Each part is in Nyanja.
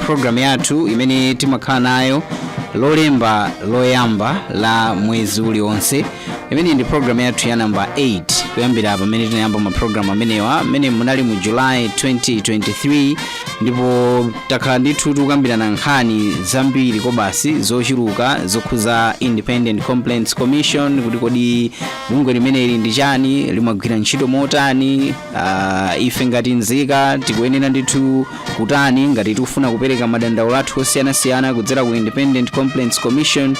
programu yathu imene timakhala nayo lolemba loyamba la mwezi uliwonse imene ndi programu yathu ya namba 8 kuyambira pamene tinayamba maprogramu amenewa mmene munali mu july 2023 ndipo takhala ndithu tikukambirana nkhani zambiri kobasi zochuluka zokhuza independent complaints commission kuti kodi bungwe limeneli ndi chani limagwira ntchito motani uh, ife ngati nzika tikuyenera ndithu kutani ngati tikufuna kupereka madandaulo athu osiyanasiyana kudzera ku independent complaints commission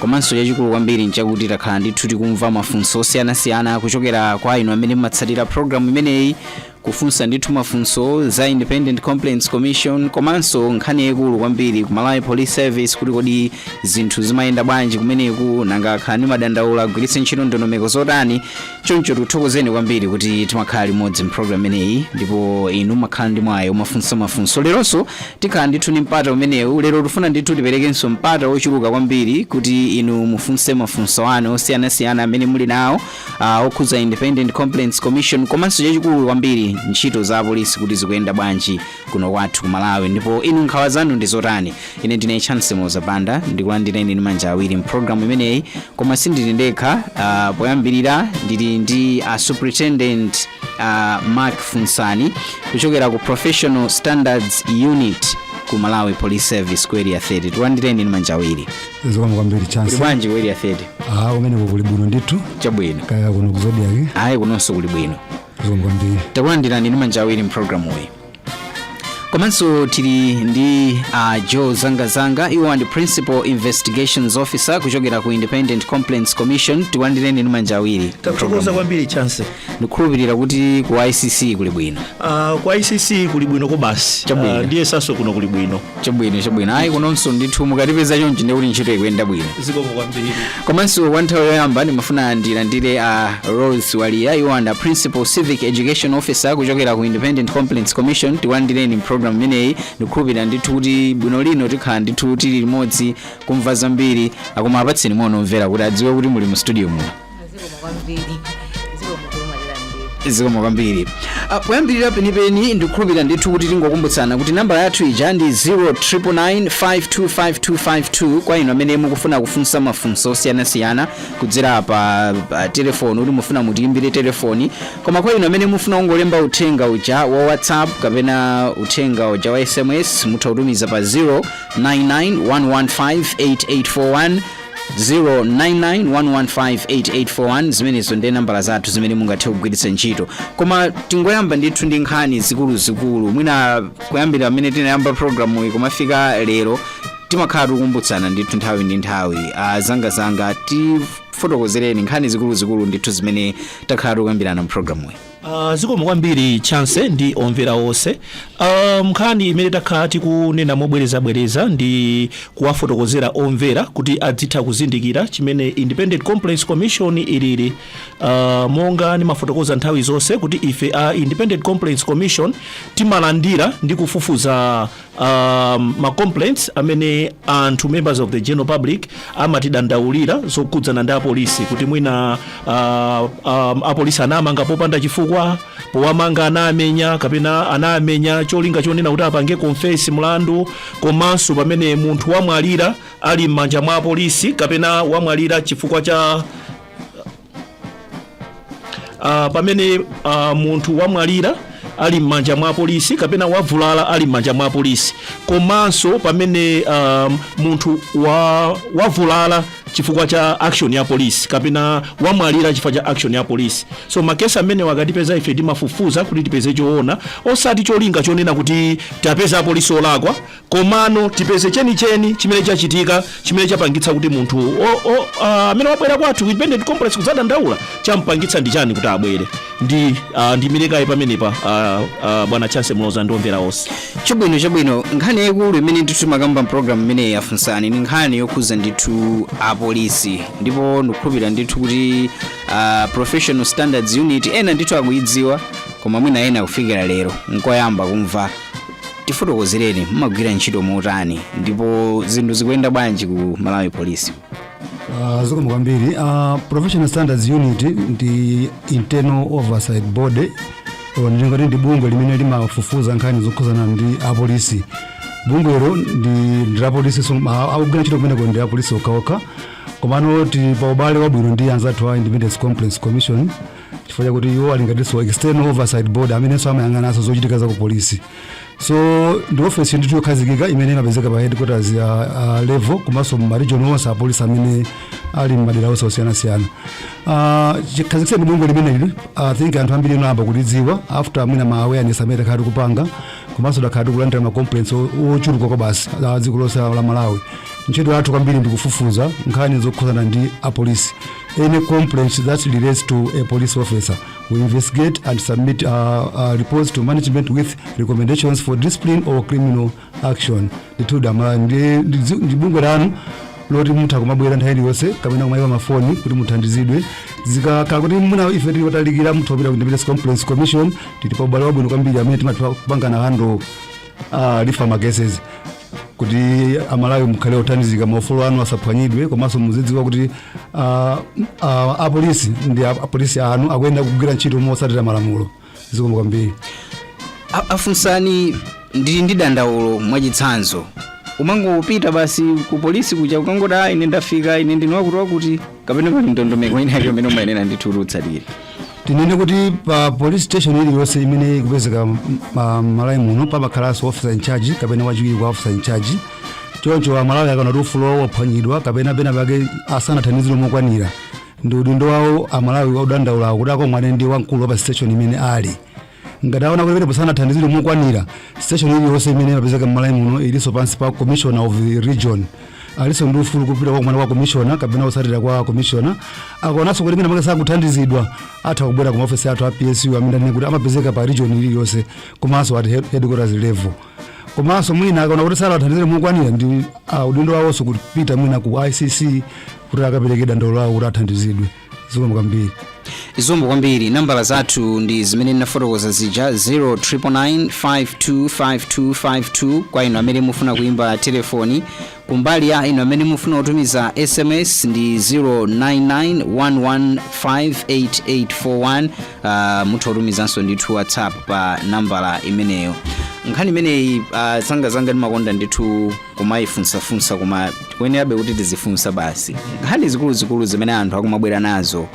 komanso chachikulu kwambiri nchakuti takhala ndithu tikumva mafunso osiyanasiyana kuchokera kwa inu amene mumatsatira programu imeneyi kufunsa ndithu mafunso za independent complaints commission komanso nkhani yayikulu kwambiri ku malawi police service kuti kodi zinthu zimayenda bwanji kumeneku nanga akhala ndi madandaulo agwiritse ntchito ndondomeko zotani choncho tikuthokozeni kwambiri kuti timakhala limodzi mpulogalamu imeneyi ndipo inu makhala ndi mwayi womafunsa mafunso leronso tikhala ndithu ndi mpata umenewu lero tifuna ndithu tiperekenso mpata wochuluka kwambiri kuti inu mufunse mafunso anu osiyanasiyana amene muli nawo ah, okhudza independent complaints commission komanso chachikulu kwambiri ntchito za apolisi kuti zikuyenda bwanji kuno kwathu ku malawi ndipo inu nkhawa zanu ndi zotani ine ndine chancy muloza banda ndikulandireni ndi manja awiri mpulogalamu imeneyi koma sindili ndekha uh, poyambirira ndili ndi a superintendent uh, mark funsani kuchokera ku professional standards unit ku malawi police service ku area 30 tikulandireni ndi manja awiri zikomo kwambiri chancy kuli bwanji ku area 30 ah kumeneko kuli bwino ndithu chabwino kaya kuno ku zodiak ayi kunonso kuli bwino takulandirani ndi manja awiri mpulogalamuyi komanso tili ndi uh, joe zangazanga iwo ndi principal investigations officer kuchokera ku independent complaints commission tikulandireni ndi manja awiri tathokoza kwambiri chancy ndikukhulupirira kuti ku icc kuli bwino uh, ku icc kuli bwino kobasi Chabwino. uh, ndiyesanso kuno kuli bwino chabwino chabwino ayi kunonso ndithu mukatipeza chonchi ndikuti ntchito ikuyenda bwino zikomo kwambiri komanso kwa nthawi yoyamba ndimafuna ndilandire a rose waliya iwo ndi a principal civic education officer kuchokera ku independent complaints commission tikulandireni mprogram imeneyi ndikukhulupirira ndithu kuti bwino lino tikhala ndithu tili limodzi kumva zambiri ah koma apatseni moni omvera kuti adziwe kuti muli mu studio muno zikomo kwambiri zikomo kwambiri zikomo kwambiri Ah, poyambirira penipeni ndikukhulupirira ndithu kuti tingokumbutsana kuti nambala yathu ija ndi 0999525252 kwa inu amene mukufuna kufunsa mafunso osiyanasiyana kudzera pa pa telefoni kuti mufuna mutiyimbire telefoni koma kwa inu amene mufuna kungolemba uthenga uja wa whatsapp kapena uthenga uja wa sms mutha kutumiza pa 0991158841 0991158841 zimenezo ndiye nambala zathu zimene mungathe kugwiritsa ntchito koma tingoyamba ndithu ndi nkhani zikuluzikulu mwina kuyambira pamene tinayamba programu iyi kumafika lero timakhala tikumbutsana ndithu nthawi ndi nthawi anzanga anzanga tifotokozereni nkhani zikuluzikulu ndithu zimene takhala tikuyambirana mu programu iyi Uh, zikomo kwambiri chance ndi omvera onse uh, nkhani imene takhala tikunena mobwerezabwereza ndi kuwafotokozera omvera kuti adzitha kuzindikira chimene independent complaints commission ilili uh, monga ndimafotokoza nthawi zonse kuti ife a independent complaints commission timalandira ndi kufufuza um, ma complaints amene anthu members of the general public amatidandaulira zokhudzana ndi apolisi kuti mwina uh, um, apolisi anamanga popanda chifukwa powamanga anamenya kapena anamenya cholinga chonena kuti apange confess mlandu komanso pamene munthu wamwalira ali m'manja mwa apolisi kapena wamwalira chifukwa cha uh, pamene uh, munthu wamwalira ali m'manja mwa polisi kapena wavulala ali m'manja mwa polisi komanso pamene um, munthu wa, wavulala chifukwa cha action ya polisi kapena wamwalira chifukwa cha action ya polisi so makesi amenewa akatipeza ife timafufuza kuti tipeze choona osati cholinga chonena kuti tapeza apolisi olakwa Komano tipeze chenicheni chimene chachitika chimene chapangitsa kuti munthu o- o- ah, amene wabwera kwathu ku independent complaints kudzadandaula champangitsa ndi chani kuti abwere ndi ah, ndimlekayi pamenepa ah, ah, bwana chance muloza ndi omvera onse chabwino chabwino nkhani yaikulu imene ndithu timakamba mpulogalamu imeneyi yafunsani ndi nkhani yokhuza ndithu apolisi ndipo ndikukhulupirira ndithu kuti uh, professional standards unit ena ndithu akuyidziwa koma mwina ena kufikira lero nkoyamba kumva tifotokozereni mumagwira ntchito motani ndipo zinthu zikuyenda bwanji ku malawi polisi Uh, zikomo kwambiri uh, professional standards unit ndi internal oversight body or ndingati ndi bungwe limene limafufuza nkhani zokhuzana ndi apolisi bungwelo ndi ndi la polisi so, uh, akugwira ntchito kumeneko ndi apolisi okhaokha komano tili pa ubale wabwino ndi anzathu a independent complaints commission chifukwa chakuti iwo ali ngatinso external oversight body amenenso amayang'ananso zochitika za ku polisi so ndi ofesi ndithu yokhazikika imene imapezeka pa headquarters ya uh, level komanso ma region onse a polisi amene ali m'madera onse osiyanasiyana uh, chikhazikitseni bungwe limeneli i think anthu ambiri anayamba kulidziwa after mwina ma awareness amene takhala tikupanga komanso takhala tikulandira ma complaints o- ochuluka kwa mbali za dziko lonse la malawi ntchito yathu kwambiri ndikufufuza nkhani zokhudzana ndi apolisi any complaints that relates to a police officer. We investigate and submit uh, uh, reports to management with recommendations for discipline or criminal action. Ndithuda ndi ndi- ndi bungwe lanu loti mutha kumabwera nthawi iliyonse kapena kumayimba mafoni kuti muthandizidwe zikakhala kuti kuna ife tili potalikira mutha kupita ku Independent Complaints Commission tili pa ubale wabwino kwambiri amene timatha kupangana handle refer ma cases kuti amalawi mukhale othandizika maufulu anu asaphwanyidwe komanso muzidziwa kuti ah, ah, apolisi ndi ap- apolisi anu akuyenera kugwira ntchito motsatira malamulo zikomo kwambiri A- afunsani ndili ndi dandaulo mwachitsanzo umangopita basi ku polisi kuja ukangoti ayi ine ndafika ine ndine wakuti wakuti kapena pali ndondomeko ina yake imene umayenera ndithu kuti utsatire tinene kuti pa police station iliyonse imene ikupezeka m- ma- malawi muno pamakhalanso officer in charge kapena wachiwiri kwa officer in charge choncho amalawi akaona kuti ufulu wawo waphwanyidwa kapena pena pake asanathandizidwe mokwanira ndi udindo wawo amalawi odandaulawo kuti akomane ndi wamkulu wa pa station imene ali Ngati aona kuti pamenepo sanathandizidwe mokwanira, siteshoni iliyonse imene imapezeka m'Malawi muno ilinso pansi pa commissioner of the region. Alinso ndi ufulu kupita kukakumana ndi commissioner kapena otsatira kwa commissioner. Akaonanso kuti mwina mwake sakuthandizidwa, atha kubwera ku maofesi athu a PSU amene ndinene kuti amapezeka pa region iliyonse komanso at head- headquarters level. Komanso mwina akaona kuti sanathandizidwe mokwanira ndi ah, udindo wawonso kupita mwina ku ICC kuti akapereke dandaulo lawo kuti athandizidwe. zikomo kwambiri zikomo kwambiri nambala zathu ndi zimene ndinafotokoza zija 0999525252 kwa inu amene mufuna kuimba telefoni kumbali ya inu amene mufuna kutumiza sms ndi 0991158841 uh, mutha kutumizanso ndithu whatsapp pa nambala imeneyo nkhani imeneyi uh, zangazanga ndimakonda ndithu kumayifunsafunsa koma tikuyenerabe kuti tizifunsa basi nkhani zikuluzikulu zimene anthu akumabwera nazo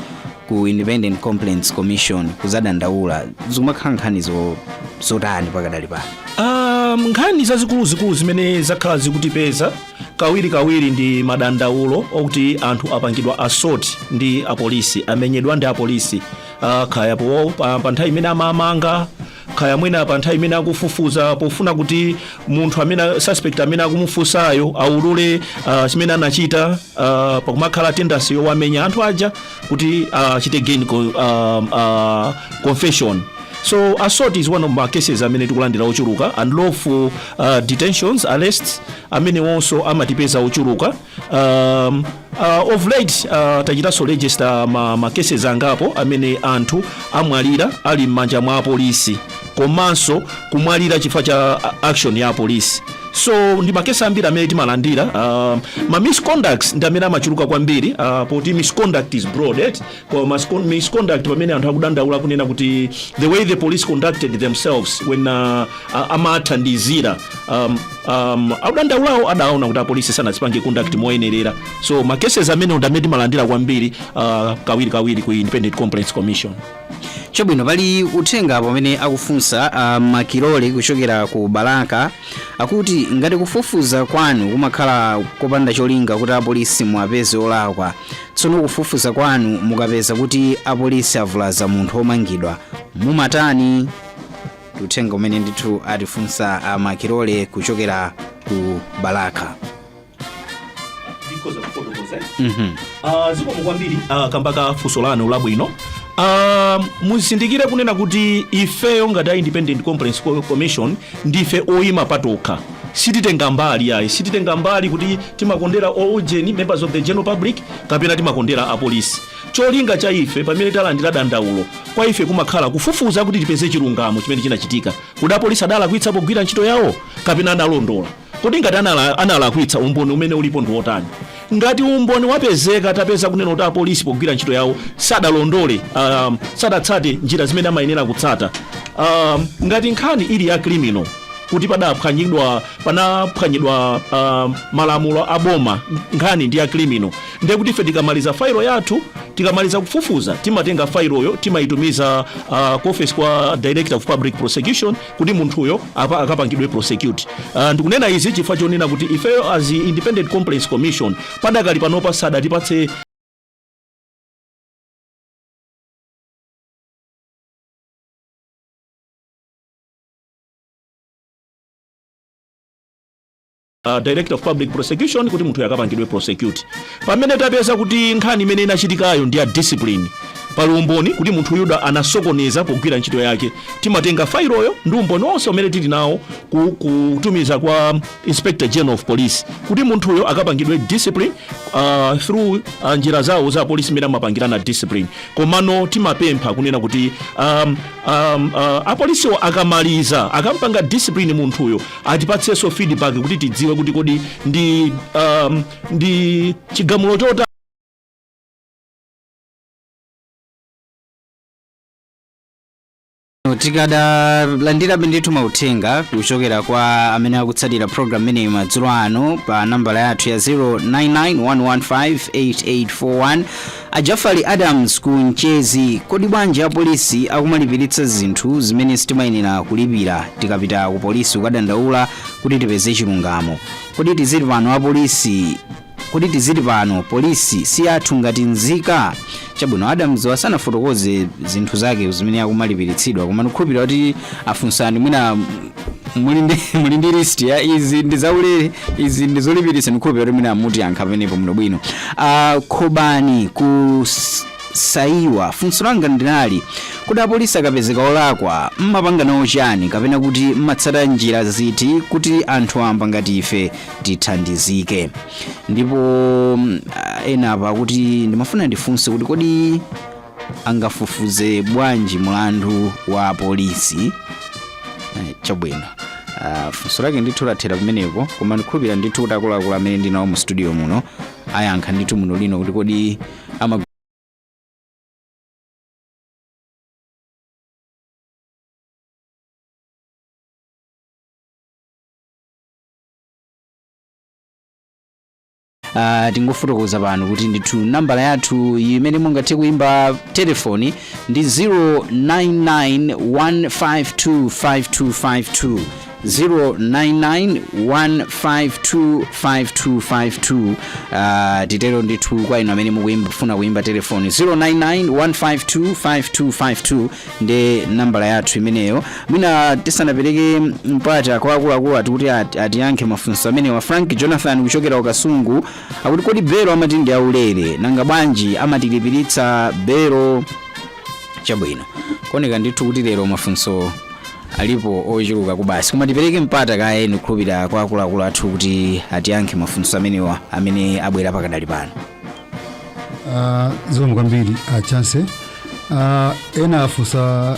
ku independent complaints commission kuzadandaula zikumakhala nkhani zo- zotani pakadali pano Um, nkhani zazikuluzikulu zimene zakhala zikutipeza kawirikawiri ndi madandaulo okuti anthu apangidwa assault ndi apolisi amenyedwa ndi apolisi uh, kaya po pa, pa nthawi imene amawamanga kaya mwina pa nthawi imene akufufuza pofuna kuti munthu amene a- suspect amene akumufunsayo aulule uh, chimene anachita uh, pakumakhala tendency yowamenya anthu aja kuti achite uh, gain co- um, uh, confession so assault is one of ma cases amene tikulandira ochuluka unlawful uh, detentions arrests amenewonso amatipeza ochuluka um, uh, of late uh, tachitanso register ma, ma cases angapo amene anthu amwalira ali m'manja mwa apolisi komanso kumwalira chifukwa cha uh, action ya apolisi so ndi makesi ambiri amene timalandira uh, ma misconducts ndi amene amachuluka kwambiri uh, poti misconduct is broad right? Well, miscon- misconduct pamene anthu akudandaula kunena kuti the way the police conducted themselves when uh, a- amathandizira um, um, akudandaulawo adaona kuti apolisi sanazipange conduct moyenerera so ma cases amene ndamene timalandira kwambiri uh, kawiri kawiri ku independent complaints commission chabwino pali uthenga apa umene akufunsa uh, makilole kuchokera ku balaka akuti ngati kufufuza kwanu kumakhala kopanda cholinga kuti apolisi muwapeze olakwa Tsono kufufuza kwanu mukapeza kuti apolisi avulaza munthu womangidwa, mumatani? Ndi uthenga umene ndithu atifunsa a Makilole kuchokera ku Balaka. ndikhoza kufotokoza Mhm. Ah, zikomo kwambiri ah, kamba ka funso lanu labwino Ah, muzindikire kunena kuti ifeyo ngati a independent complaints Co- commission ndife oyima patokha Sititenga mbali ayi, sititenga mbali kuti timakondera oujeni, members of the general public, kapena timakondera a polisi. Cholinga cha ife pamene talandira dandaulo, kwa ife kumakhala kufufuza kuti tipeze chilungamo chimene chinachitika. Kodi apolisi adalakwitsa pogwira ntchito yawo kapena analondola? Kodi ngati anala, analakwitsa umboni umene ulipo ndi wotani? Ngati umboni wapezeka, tapeza kunena kuti apolisi pogwira ntchito yawo sadalondole, um, sadatsate njira zimene amayenera kutsata. Um, ngati nkhani ili ya criminal kuti padaphwanyidwa panaphwanyidwa um, malamulo a boma nkhani ndi ya criminal ndiye kuti ife tikamaliza failo yathu tikamaliza kufufuza timatenga failoyo timayitumiza uh, ku office kwa director of public prosecution kuti munthuyo apa- akapangidwe prosecute uh, ndikunena izi chifukwa chonena kuti ifeyo as independent complaints commission padakali panopa sadatipatse a Director of Public Prosecution kuti munthuyo akapangidwe prosecute. Pamene tapeza kuti nkhani imene inachitikayo ndi ya discipline, pali umboni kuti munthu uja anasokoneza pogwira ntchito yake timatenga failoyo ndi umboni wonse umene tili nawo ku- kutumiza kwa inspector general of police kuti munthuyo akapangidwe discipline uh, through uh, njira zawo za polisi zimene amapangirana discipline komano timapempha kunena kuti um, um, uh, apolisiwo akamaliza akampanga discipline munthuyo atipatsenso feedback kuti tidziwe kuti kodi ndi um, ndi chigamulo chota tikadalandirabe ndithu mauthenga kuchokera kwa amene akutsatira program imeneyi madzulo ano pa nambala yathu ya 0991158841 A Jafali Adams ku Mchezi, Kodi bwanji apolisi akumalipilitsa zinthu zimene sitimayenela kulipila tikapita ku polisi kukadandaula kuti tipeze chilungamo? Kodi tiziti pano apolisi Kodi tiziti pano polisi si yathu ngati nzika? Chabwino Adams sanafotokoze zinthu zake zimene akumalipilitsidwa koma ndikukhulupilira kuti afunsani mwina muli ndi muli ndi list ya izi ndi zaulere izi ndi zolipiritsa ndi hope kuti mwina mutiyankha pamenepo bwino bwino uh, khobani ku S- saiwa funso langa nali kodi apolisi akapezeka olakwa mmapanga nawo chani kapena kuti mmatsata njira ziti kuti anthu amba ngati ife tithandizike ndipo mm, ah, ena apa akuti ndimafuna ndifunse kuti kodi angafufuze bwanji mulandu wa polisi Eh, chabwino Ah, funso lake ndithu lathera pamenepo koma ndikhulupira ndithu kuti akuluakulu amene ndinawo mu studio muno ayankha ndithu bwino lino kuti kodi ama Uh, tingofotokoza pano kuti ndithu nambala yathu imene mungathe kuimba telefoni ndi 0991525252 0991525252 uh, titero ndithu kwa inu amene mukufuna kuimba telefoni 0991525252 ndi nambala yathu imeneyo mwina tisanapereke mpata kwa akuluakulu athu kuti ati- atiyankhe mafunso amenewa frank jonathan kuchokera ku kasungu akuti kodi belo amati ndi aulere nanga bwanji amatilipiritsa belo chabwino kuoneka ndithu kuti lero mafunso alipo ochuluka zedi basi koma tipereke mpata kaye ndikukhulupirira kwa akuluakulu athu kuti atiyankhe mafunso amenewa amene abwera pakadali pano Ah, zikomo kwambiri a chance Ah, ena afunsa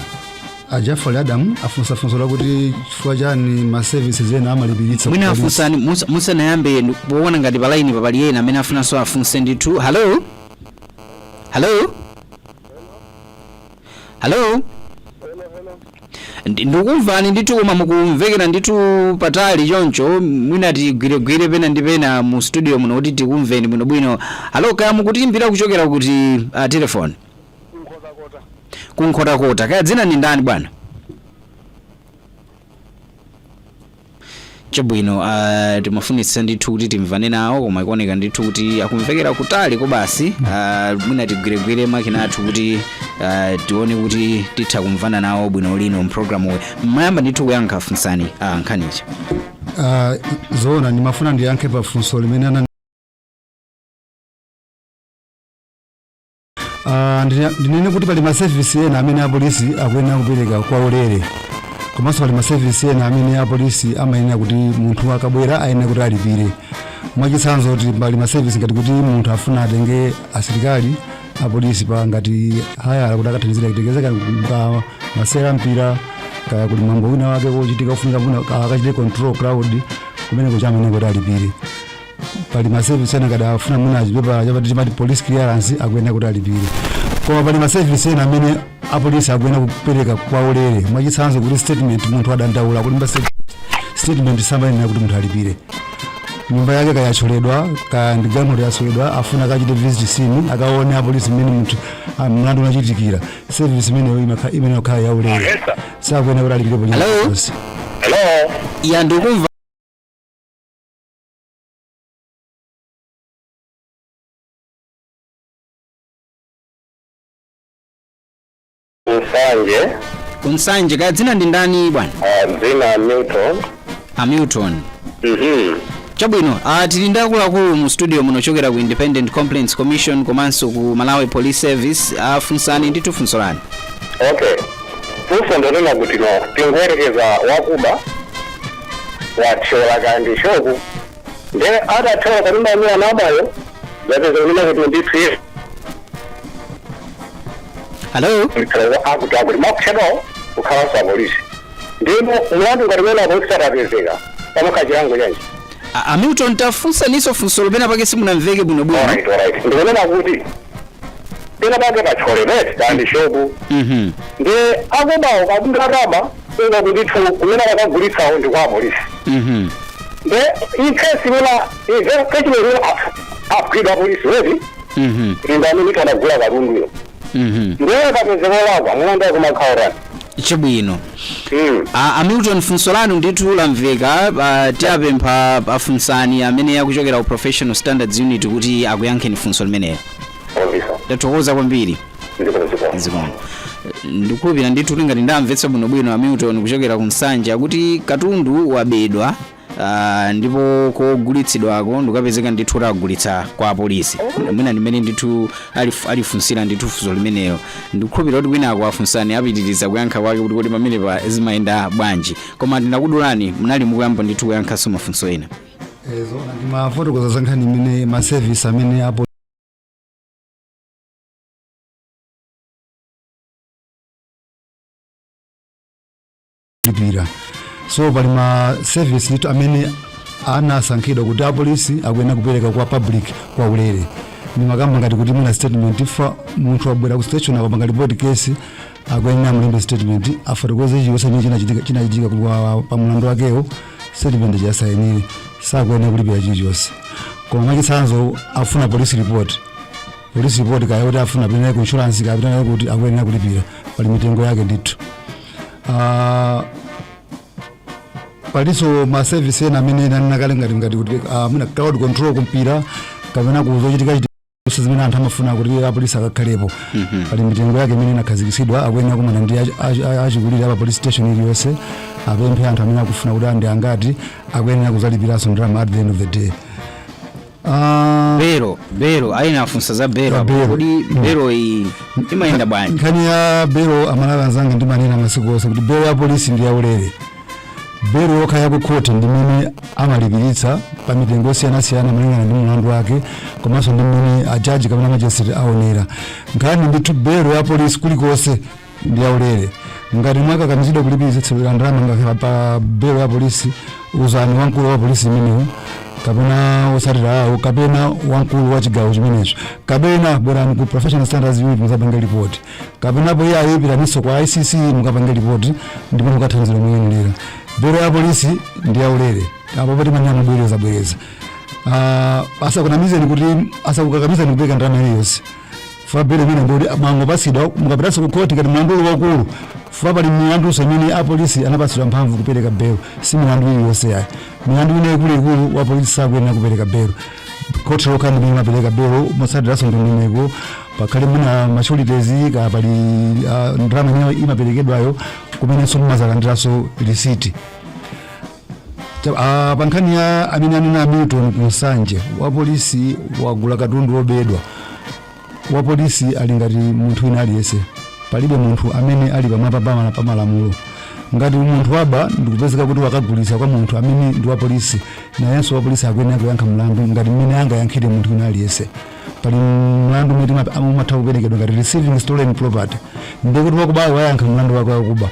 a jafali adamu afunsa funso lakuti chifukwa chani ma services ena amalipiritsa mwina ku polisi. afunsani musa- musanayambe ndi- poona ngati palaini papali ena amene afunanso afunse ndithu halo halo halo Hello, hello. Ndi- ndikumvani ndithu koma mukumvekera ndithu patali choncho mwina tigwiregwire pena ndi pena mu studio muno kuti tikumveni bwinobwino halo kaya mukutiimbira kuchokera kuti uh, telefoni Nkhotakota. ku Nkhotakota kaya dzina ndi ndani bwana chabwino uh, timafunitsitsa ndithu kuti timvane nawo koma ikuoneka ndithu kuti akumvekera kutali kobasi uh, mwina tigwiregwire makina athu kuti uh, tione kuti titha kumvana nawo bwino muno mpulogalamu uyu mmayamba ndithu kuyankha a Funsani uh, nkhaniyo Ah, zoona ndimafuna ndiyankhe pa funso limene ana Ah, ndine- ndinene kuti pali masevisi ena amene apolisi akuyenera kupereka kwa ulere komanso pali masevisi ena amene apolisi amayenera kuti munthu akabwera ayenera kuti alipire mwachitsanzo kuti pali masevisi ngati kuti munthu afuna atenge asilikali apolisi pa ngati hayala kuti akathandizira kuteteza kaya pa masewera a mpira kaya kuli mwambo wina wake wochitika wofunika kuti akachite control crowd kumeneko amayenera kuti alipire pali masevisi ena ngati afuna muna achipepala chapati chimati police clearance akuyenera kuti alipire koma pali masevisi ena amene apolisi akuyenera kupereka kwa ulere mwachitsanzo kuti statement munthu adandaula kulemba statement samayenera kuti munthu alipire nyumba yake kaya yathyoledwa kaya ndi galimoto yathyoledwa afuna akachite visit scene akaone apolisi mmene munthu ah, mlandu unachitikira service imeneyo imakha- imene yakhala ya ulere Esa. sakuyenera kuti alipire Hello? police hello ya ndikumva Nsanje ku Nsanje kaya dzina ndi ndani bwana ah, dzina Milton a Milton Mhm. chabwino ah, tili ndi akuluakulu mu studio muno ochokera ku independent complaints commission komanso ku malawi police service ah, funsani ndithu funso lanu okay funso ndonena kuti no tingoyerekeza wakuba wathyola kaya ndi shopu nde akathyola pano maimira nabayo zapeza kunena kuti ndithu iye halo mtalaza akuti akuti amagulitsa kwa apolisi ndimo mulandu ngati mene apolisi atapezeka pamukha chilango chanji A- a Milton tafunsaniso funso lo penapake simunamveke bwinobwino alright alright ndikunena kuti pena pake pathyoledwa eti kaya ndi shopu Mhm. ndiye akubawo katundu akaba ndithu kumene akagulitsawo ndi kwa apolisi Mhm. nde in case imene ive kachimene imene agwidwa apolisi eti Mhm. ndi amene anagula katunduyo Mhm. ndiye akapezeka olakwa mlandu wake umakhala wotani chabwino Mm. a, a milton funso lanu ndithu lamveka a, tiapempha a Funsani amene akuchokera ku professional standards unit kuti akuyankheni funso limenelo Obisa. ndathokoza kwambiri Ndipo ndipo. zikomo ndikukhulupirira ndithu kuti ngati ndamvetsa bwinobwino a milton kuchokera ku Nsanje kuti katundu wabedwa Ah, ndipo kogulitsidwako ndikukapezeka ndithu kuti agulitsa kwa apolisi mwina ndimene ndithu alif- alifunsira ndithu funso limenelo ndikukhulupirira kuti kwinako afunsani apitiriza kuyankha kwake kuti kodi pamenepa zimayenda bwanji koma ndinakudulani munali mukuyamba ndithu kuyankhanso mafunso ena zona ndimafotokoza za nkhani imene masevisi amene apo kulipira so pali ma service ndithu amene anasankhidwa kuti apolisi akuyenera kupereka kwa public kwa ulere ndimakamba ngati kuti mwina statement chifukwa munthu wabwera ku station akapanga report case akuyenera mulembe statement afotokoze chilichonse chimene chinachitika chinachitika ku- wa- pa mulandu wakewo statement asayinire sakuyenera kulipira chilichonse koma mwachitsanzo afuna police report police report kaya kuti afuna apite naye ku insurance kaya apite naye kuti akuyenera kulipira pali mitengo yake ndithu Ah, palinso ma service ena amene ndinanena kale ngati ngati kuti ah, mwina crowd control kumpira kapena kuzochitika chitika zonse zimene anthu amafuna kuti apolisi akakhalepo pali mitengo yake imene inakhazikitsidwa akuyenera kumana ndi achi- achi- achi- achikulire apa police station iliyonse apemphe anthu amene akufuna kuti ndi angati akuyenera kuzalipiranso ndalama at the end of the day Ah, belo belo ena anafunsa za belo Za apo. belo. kodi belo iyi imayenda bwanji nkhani ya belo amalawi anzanga ndimanena masiku onse kuti belo ya polisi ndi yaulere belo yokha ya kukhoti ndi imene amalipiritsa pa mitengo yosiyanasiyana malingana ndi mlandu wake komanso ndi mmene ajaji kapena majisitireti aonera nkhani ndithu belo ya polisi kulikonse ndi yaulere ngati mwakakamizidwa kulipiritsa ndalama ngakhale pa belo ya polisi uzani wamkulu wa polisi imeneyo kapena otsatira awo kapena wamkulu wa chigawo chimenecho kapena bwerani ku professional standards unit mukapange ripoti kapena apo ayi pitaninso kwa icc mukapange ripoti ndipo mukathandizidwa moyenelera belo ya polisi ndi yaulere apapa timanena mobwereza bwereza Ah, asakunamizeni kuti asakukakamizeni kupereka ndalama iliyonse chifukwa belo imene ndikuti mwangopatsidwa mukapitanso ku khoti ngati mlandu uli waukulu chifukwa pali milandunso imene apolisi anapatsidwa mphamvu kupereka belo si milandu iliyonse yayi milandu ina ikuluikulu wapolisi sakuyenera kupereka belo khoti lokha ndi limene limapereka belo motsatiranso ndondomeko pakhale mwina ma sureties kaya pali ah, ndalama imene imaperekedwayo kumenenso mumazalandiranso lisiti Cha- ah, pa nkhani ya imene anena a milton ku nsanje wapolisi wagula katundu wobedwa wapolisi ali ngati munthu wina aliyense palibe munthu amene ali pamwamba pamala pa malamulo ngati munthu waba ndikupezeka kuti wakagulitsa kwa munthu amene ndi wapolisi nayenso wapolisi akuyenera kuyankha mlandu ngati mmene angayankhire munthu wina aliyense pali mlandu umene timap- am- umatha kuperekedwa ngati receiving stolen property ndikuti wakubayo wayankha mlandu wake wakuba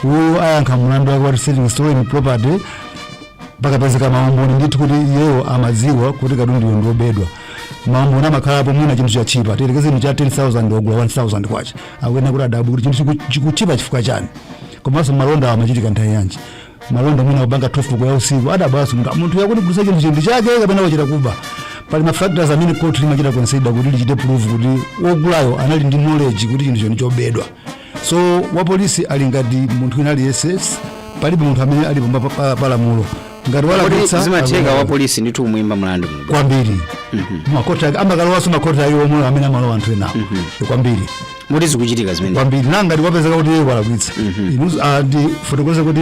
uyu ayankha mlandu wake wa receiving stolen property pakapezeka maumboni ndithu kuti iyewo amadziwa kuti katunduyo ndiobedwa maumboni amakhalapo mwina chinthu chatchipa tiyerekeze chinthu cha 10000 ogula 1000 kwacha akuyenera kuti adabwe kuti chinthu chiku- chikutchipa chifukwa chani komanso malonda amachitika nthawi yanji malonda mwina kupanga 12 koloko ya usiku adabweso munthu munthuyu akundigulisa chinthu chinthu chake kapena wachita kuba pali mafactors amene court limachita consider kuti lichite prove kuti wogulayo anali ndi knowledge kuti chinthucho ndi chobedwa so wapolisi ali ngati munthu wina aliyense palibe munthu amene ali pamba pa- pa- pa lamulo ngati walakwitsa zimatheka wa polisi ndithu kumuimba mlandu kwambiri makoti ake amakalowaso makoti awo omwe amene amalowa anthu enawo kwambiri moti zikuchitika zimenezo kwambiri ngati kwapezeka kuti iye walakwitsa ndi zoona ah, ndafotokoza kuti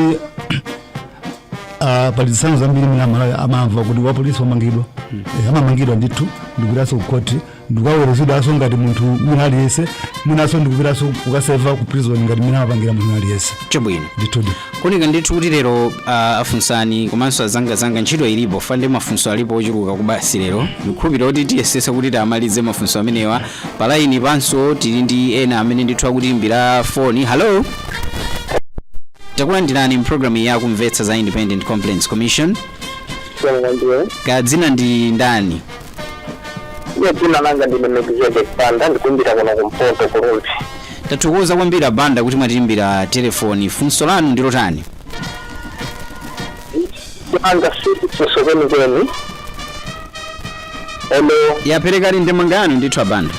ah, pali zitsanzo zambiri zimene amalawi amamva kuti wapolisi wamangidwa Eh, amamangidwa ndithu ndikupitaso kukhoti ndikukaweruzidwaso ngati munthu wina aliyense mwinaso ndikupitaso kukaseva ku prison ngati mene amapangira munthu aliyense chabwino ndithudi kuoneka ndithu kuti lero uh, afunsani komanso azangazanga ntchito ilipo fande mafunso alipo ochuluka koma basi lero ndikhulupirira kuti tiyesesa kuti tiamalize mafunso amenewa palaini panso tili ndi ena amene ndithu akutiimbira foni hallo takulandirani mpulogalamu ya kumvetsa za independent complaints commission takulandirani, kadzina ndi ndani Ine dzina langa ndine Melkizedek Banda ndikuimbira kuno kumpoto ku Rumphi. tathokoza kwambiri abanda kuti mwatiimbira telefoni funso lanu ndi lotani Langa si funso kwenikweni. Olo yaperekani ndemanga yanu ndithu abanda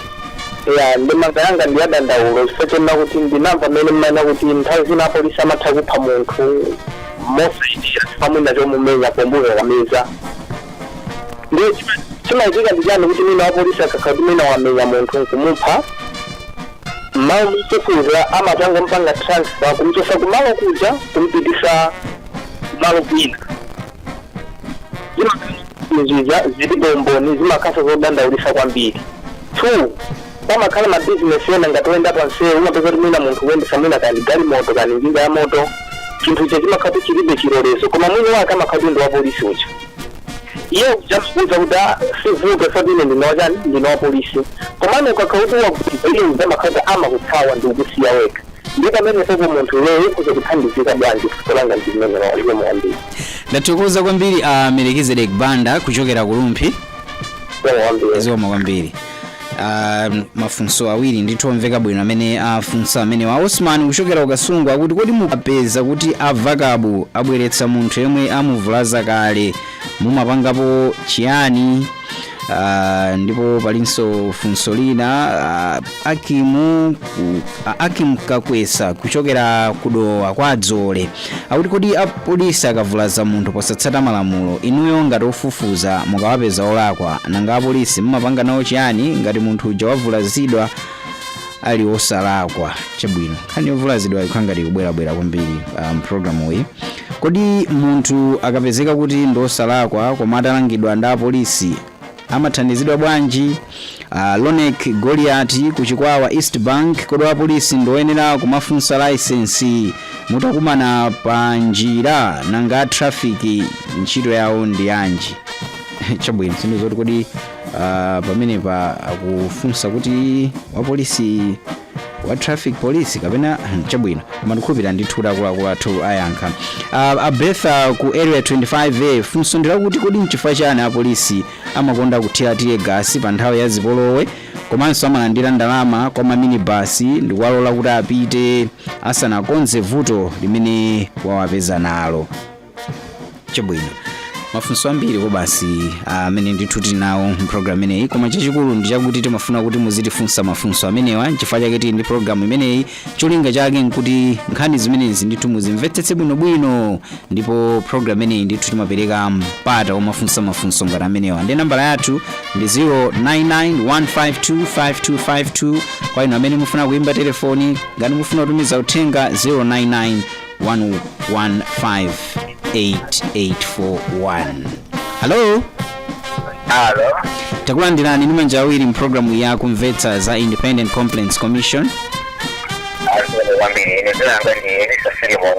ya ndemanga yanga ndi yadandaulo chifukwa chonena kuti ndinamva mmene mumanena kuti nthawi zina apolisi amatha kupha munthu mosayenera chifukwa mwina chomumenya pomukakamiza ndiye chima- chimachitika ndi chani kuti mwina wapolisi akakhala kuti mwina wamenya munthu nkumupha mmalo mofufuza amangompanga transfer kumchosa kumalo kuja kumpitisa malo kwina zimapangisa zilibe umboni zimakhala zodandaulisa kwambiri two pamakhala mabizinesi ena ngati oyenda pa msewu umapeza kuti mwina munthu akuyendesa mwina kani galimoto kani njinga ya moto chinthu icho chimakhala kuti chilibe chilolezo koma mwini wake amakhala kuti ndi wapolisi uja iye uja akuuza kuti "Ah, usavutike zoti ine ndine wachani ndine wa polisi komano ukakhala kuti wagwidwa iye uja amakhala amakuthawa ndi kukusiya wekha nde pamenepopo munthu iweyo ukhoza kuthandizika bwanji fuso langa ndi limenelo zikomo kwambiri ndathokoza kwambiri a melkizedek banda kuchokera ku rumphi kwambiri zikomo kwambiri uh, mafunso awiri ndithu omveka bwino amene afunsa amenewa osman kuchokera ku Kasungu akuti kodi mukapeza kuti avakabu abweretsa munthu yemwe amuvulaza kale mumapangapo chiyani Uh, ndipo palinso funso lina uh, akimu ku, uh, akim kakwesa kuchokera kudowa kwa adzole Akuti kodi a police akavulaza munthu posatsata malamulo, inuyo ngati ofufuza mukawapeza olakwa, nanga a police mumapanga nawo chiyani ngati munthu uja wavulazidwa ali osalakwa? Chabwino, nkhani yovulazidwa ikukhala ngati ikubwerabwera kwambiri ah, m'programu iyi. Kodi munthu akapezeka kuti ndi osalakwa koma atalangidwa ndi a polisi amathandizidwa bwanji uh, lonek goliati ku chikwawa east bank kodi apolisi ndi oyenera kumafunsa laisensi mutakumana pa njira nanga a traffic ntchito yawo ndi yanji chabwino sindidziwa kuti kodi uh, pamenepa akufunsa kuti wapolisi wa traffic police kapena hmm, chabwino koma ndikhulupirira ndithu kuti akuluakulu athu ayankha uh, abetha ku area 25a funso ndi lakuti kodi nchifukwa chani apolisi amakonda kuthira tear gas pa nthawi ya zipolowe komanso amalandira ndalama kwa maminibasi ndikuwalola kuti apite asanakonze vuto limene wawapeza nalo chabwino mafunso ambiri kobasi amene ndithu tili nawo mpulogalamu imeneyi koma chachikulu ndi chakuti timafuna kuti muzitifunsa mafunso amenewa nchifukwa chake tili ndi pulogalamu imeneyi cholinga chake nkuti nkhani zimenezi ndithu muzimvetsetse bwinobwino ndipo pulogalamu imeneyi ndithu timapereka mpata womafunsa mafunso ngati amenewa ndi nambala yathu ndi 0991525252 kwa inu amene mufuna kuimba telefoni ngati mufuna kutumiza uthenga 099 1158841 halo Alo. takulandirani ndi manja awiri mpulogalamu ya kumvetsa za independent complaints commission Zikomo kwambiri. Ine dzina langa ndi Elisa Filimon.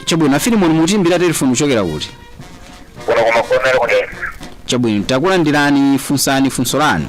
chabwino afilimoni mukutiimbira telefoni kuchokera kuti Kuno ku Magomero ku Dedza chabwino takulandirani funsani funso lanu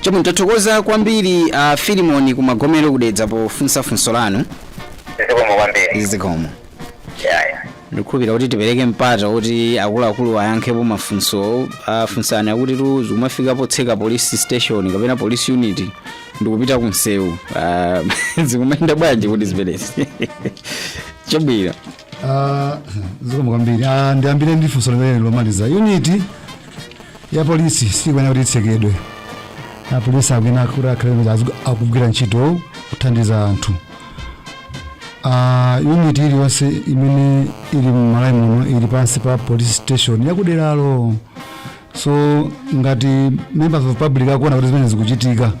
Chabwino tathokoza kwambiri a uh, Filimoni ku Magomero ku Dedza pofunsa funso lanu. Zikomo kwambiri. Zikomo. Yeah, yeah. ndikhulupira kuti tipereke mpata kuti akuluakulu ayankhepo mafunsowa afunsa akuti tu zikumafika potseka police station kapena police unit ndikupita kumsewu uh, zikumayenda bwanji kuti ziperezi chabwino Ah, zikomo kwambiri Ah, ndiyambire ndi funso limene lomaliza uniti ya polisi sikuyenera kuti itsekedwe apolisi akuyenera kuti akhale kuti azigu- akugwira ntchito kuthandiza anthu Ah, unit iliyonse imene ili m'Malawi muno ili pansi pa police station yakuderalo so ngati members of public akuona kuti zimene zikuchitika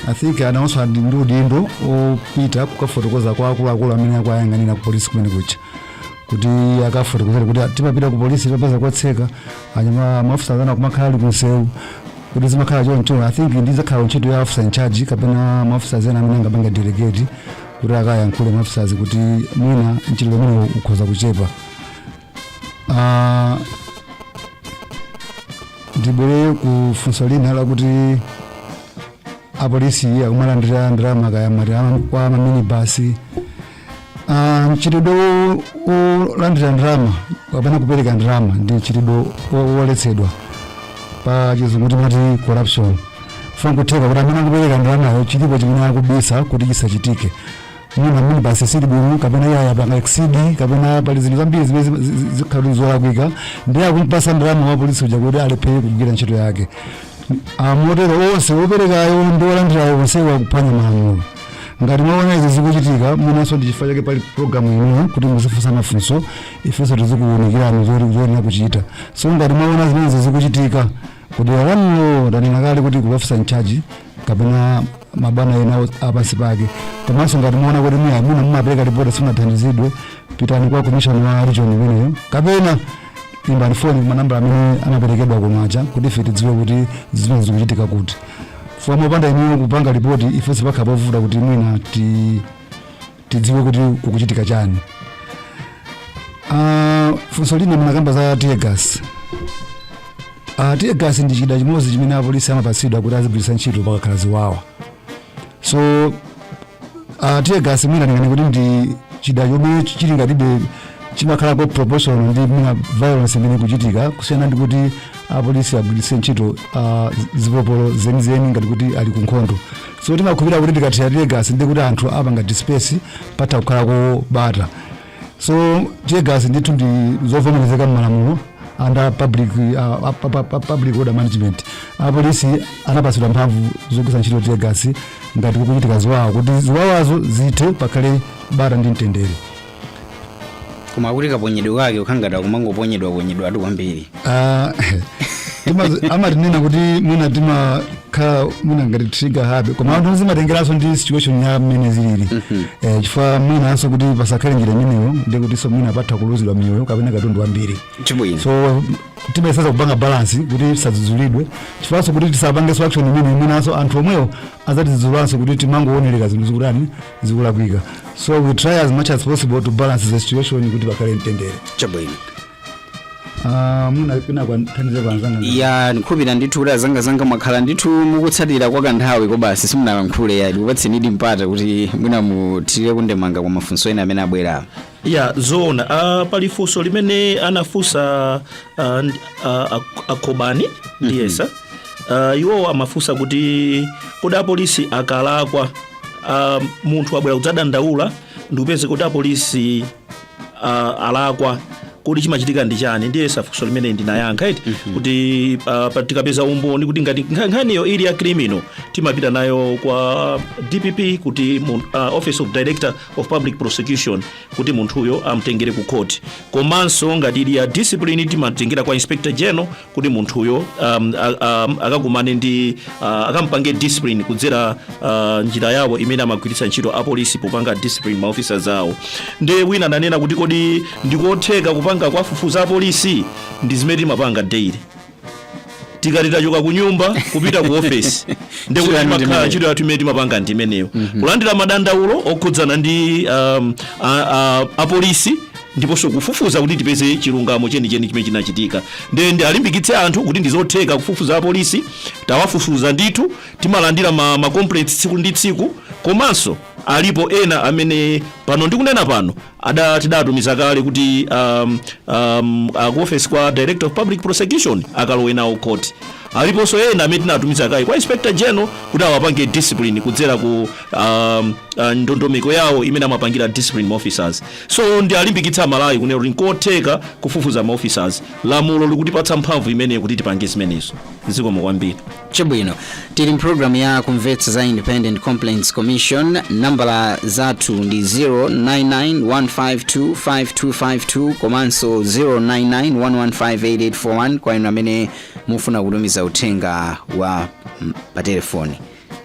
i think anawonso ali ndi udindo opita kukafotokoza kwa akuluakulu amene akuyang'anira ku polisi kumene kuja kuti akafotokozere kuti timapita ku polisi tapeza kotseka anyama maofisa azana kumakhala ali kumsewu kuti zimakhala choncho i think ndizakhala ntchito ya officer in charge kapena maofisa ena amene angapanga delegate kuti akayankhule maofisa aja kuti mwina ntchito imene ukhoza kuchepa Ah, ndibwere ku funso lina lakuti apolisi akumalandira ndalama kaya mati ama- kwa maminibasi Ah, mchitidwe wo- wolandira ndalama kapena kupereka ndalama ndi mchitidwe wo- woletsedwa pa chizungu timati corruption chifukwa kutheka kuti amene akupereka ndalamayo chilipo chimene akubisa kuti chisachitike mwina minibasi sili bwino kapena iye wapanga exceed kapena pali zinthu zambiri zimene zima- zi- zi- zikhala kuti zolakwika ndiye akumpatsa ndalama wa polisi uja kuti alephere kugwira ntchito yake Ah, motero onse woperekayo ndi wolandirayo onsewo akuphwanya malamulo ngati mwaona izi zikuchitika mwinanso ndi chifukwa chake pali programu ino kuti muzifunsa mafunso ifenso tizikuwunikirani zoti zoyenera kuchita so ngati mwaona zimenezi zikuchitika kudera lanulo ndanena kale kuti kwa ofisa in charge kapena mabwana ena o- apansi pake komanso ngati mwaona kuti mwina mumapereka lipoti simunathandizidwe pitani kwa komishonala wa region imeneyo kapena imbani foni ku manambala amene anaperekedwa kuja kuti ife tidziwe kuti zimene zikuchitika kuti chifukwa popanda inuyo kupanga lipoti ifenso pakhala povuta kuti mwina ti tidziwe kuti kukuchitika chani Ah, funso lina munakamba za tear gas uh, tear gas ndi chida chimodzi chimene apolisi amapatsidwa kuti azigwiritsa ntchito pakakhala ziwawa so uh, tear gas mwina ndinganene kuti ndi chida chomwe chili ngatibe chimakhalako proportional ndi mwina violence imene ikuchitika kusiyana ndi kuti apolisi agwiritse ntchito uh, zipopolo zenizeni ngati kuti ali ku nkhondo so timakhulupirira kuti tikathira tear gas ndi kuti anthu apanga disperse patha kukhalako bata so tear gas ndithu ndi zovomerezeka mmalamulo under public, uh, pu- pu- pu- public order management apolisi anapatsidwa mphamvu zogwiritsa ntchito tear gas ngati kukuchitika ziwawa kuti ziwawazo zithe pakhale bata ndi mtendere koma akuti kaponyedwe kake ukhangata kumangoponyedwa ponyedwa ati kwambiri Ah, timazi- amatinena kuti mwina timakhala mwina ngati trigger happy koma anthu zimatengeranso ndi situation ya mmene zilili Eh, chifukwa mwinanso kuti pasakhale njira imeneyo ndi kutinso mwina patha kuluzidwa miyoyo kapena katundu wambiri chabwino so timayesetsa kupanga balance kuti tisadzudzulidwe chifukwanso kuti tisapangenso action imene mwinanso anthu omwewo azatidzudzulanso kuti timangoonerera zinthu zikutani zikulakwika so we try as much as possible to balance the situation kuti pakhale mtendere chabwino Ah, mwina pina kwanthandize kwanzanga ya ndikhulupira ndithu kuti azangazanga mwakhala ndithu mukutsatira kwa kanthawi kobasi simunalankhule ya ndikupatsenidi mpata kuti mwina muthirire kundemanga kwa mafunso ena amene abwera ya zoona uh, pali funso limene anafunsa uh, nd- uh, ak- akhobani ndiyesa uh, iwowo amafunsa kuti kodi apolisi akalakwa uh, munthu wabwera kudzadandaula ndikupeza kuti apolisi uh, alakwa kodi chimachitika ndi chani ndiyesa funso limene ndinayankha eti kuti uh, pa- tikapeza umboni kuti ngati nkha- nkhaniyo ili ya criminal timapita nayo kwa dpp kuti mu, uh, office of director of public prosecution kuti munthuyo amtengere ku court komanso ngati ili ya discipline timatengera kwa inspector general kuti munthuyo um, a- a- akakumane ndi uh, akampange discipline kudzera uh, njira yawo imene amagwiritsa ntchito apolisi popanga discipline ma officers awo ndi wina ananena kuti kodi ndikotheka kupanga kwafufuza apolisi ndi zimene timapanga daily tikati tachoka ku nyumba kupita ku ofesi ndi kuti Ntchito yanu ndi imakhala imeneyo. ntchito yathu imene timapanga ndi imeneyo kulandira madandaulo okhudzana ndi um, a- a- apolisi ndiponso kufufuza kuti tipeze chilungamo chenicheni chimene chinachitika nde ndialimbikitse anthu kuti ndizotheka kufufuza apolisi tawafufuza ndithu timalandira ma, ma complaints tsiku ndi tsiku komanso alipo ena amene pano ndikunena pano ada tidatumiza kale kuti um, um, ku office kwa director of public prosecution akalowe nawo court aliponso ena amene tinatumiza kale kwa inspector general kuti awapange discipline kudzera ku um, uh, ndondomeko yawo imene amapangira discipline officers So ndialimbikitse amalawi kunena kuti nkotheka kufufuza ma officers lamulo likutipatsa mphamvu imeneyo kuti tipange zimenezo zikomo kwambiri chabwino tili mpulogalamu ya kumvetsa za independent complaints commission nambala zathu ndi 0991525252 komanso 0991158841 kwa inu amene mufuna kutumiza uthenga wa mm, pa telefoni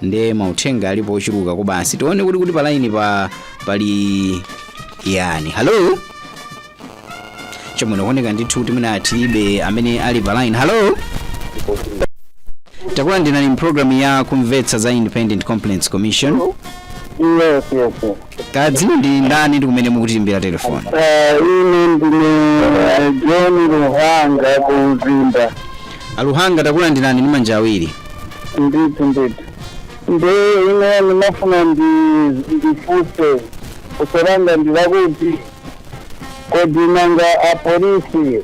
nde mauthenga alipo ochuluka kobasi tione kuti kuti palaini pali yani halo chomwe ndikuoneka ndithu kuti mwina tilibe amene ali palaini halo takulandirani mpulogalamu ya kumvetsa za independent complaints commission Yes, yes, yes. Kaya dzina ndi ndani ndi kumene mukutiimbira telefoni? Eh, ine ndine eh, John Luhanga ku Mzimba Aluhanga takulandirani ndi manja awiri. ndithu ndithu ndi ine ndimafuna ndi- ndifunse funso langa ndi lakuti kodi nanga apolisi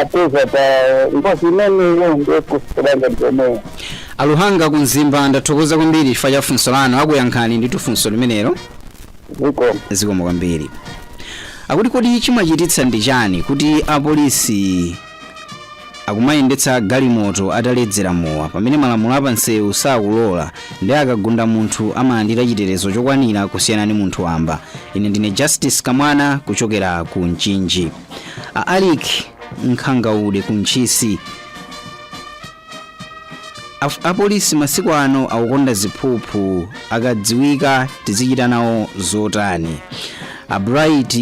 apeza pa ngozi imeneyo ndekusikira ngati komweyo aluhanga ku mzimba ndathokoza kwambiri chifukwa cha funso lanu akuyankhani ndithu funso limenelo zikomo zikomo kwambiri akuti kodi chimachititsa ndi chani kuti apolisi akumayendetsa galimoto ataledzera mowa pamene malamulo a pamsewu sakulola ndi akagunda munthu amalandira chitetezo chokwanira kusiyana ndi munthu wamba ine ndine justice kamwana kuchokera ku mchinji a Alick nkhangaude ku ntchisi Af- apolisi masiku ano akukonda ziphuphu akadziwika tizichita nawo zotani a Bright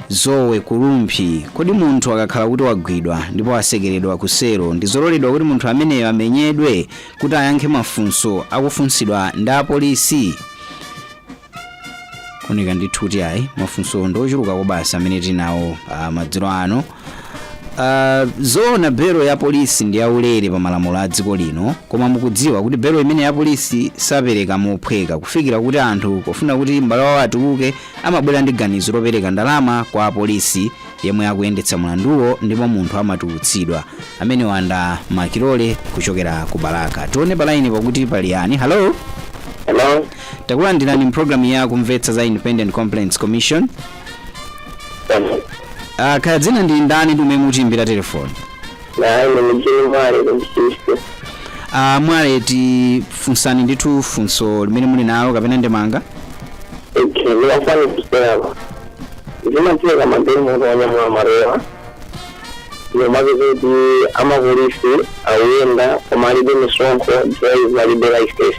Zowe ku Rumphi kodi munthu akakhala kuti wagwidwa ndipo atsekeredwa ku selo ndizololedwa kuti munthu ameneyo amenyedwe kuti ayankhe mafunso akufunsidwa ndi apolisi kuoneka ndithu kuti ayi mafunso ndi ochuluka kobasa amene tinawo ah, madzulo ano Ah, zoona belo ya polisi ndi yaulere pa malamulo a dziko lino koma mukudziwa kuti belo imeneyi a polisi sapereka mophweka kufikira kuti anthu pofuna kuti m'bale wawo atuluke amabwera ndi ganizo lopereka ndalama kwa apolisi yemwe akuyendetsa mlanduwo ndipo munthu amatulutsidwa amenewa ndi a Makilole kuchokera ku balaka tione palaini pakuti pali yani halo Hello? takulandirani mpulogalamu ya kumvetsa za independent complaints commission uh, kaya dzina ndi ndani ndi kumene mukutiimbira telefoni ine ndi mujini mwale ku Ntchisi uh, mwale tifunseni ndithu funso limene muli nalo kapena ndemanga okay ndimafuna kuserako zimachitika madeni munthu wanyamula marewa umapeza kuti amapolisi akuyenda koma alibe misonkho driver alibe license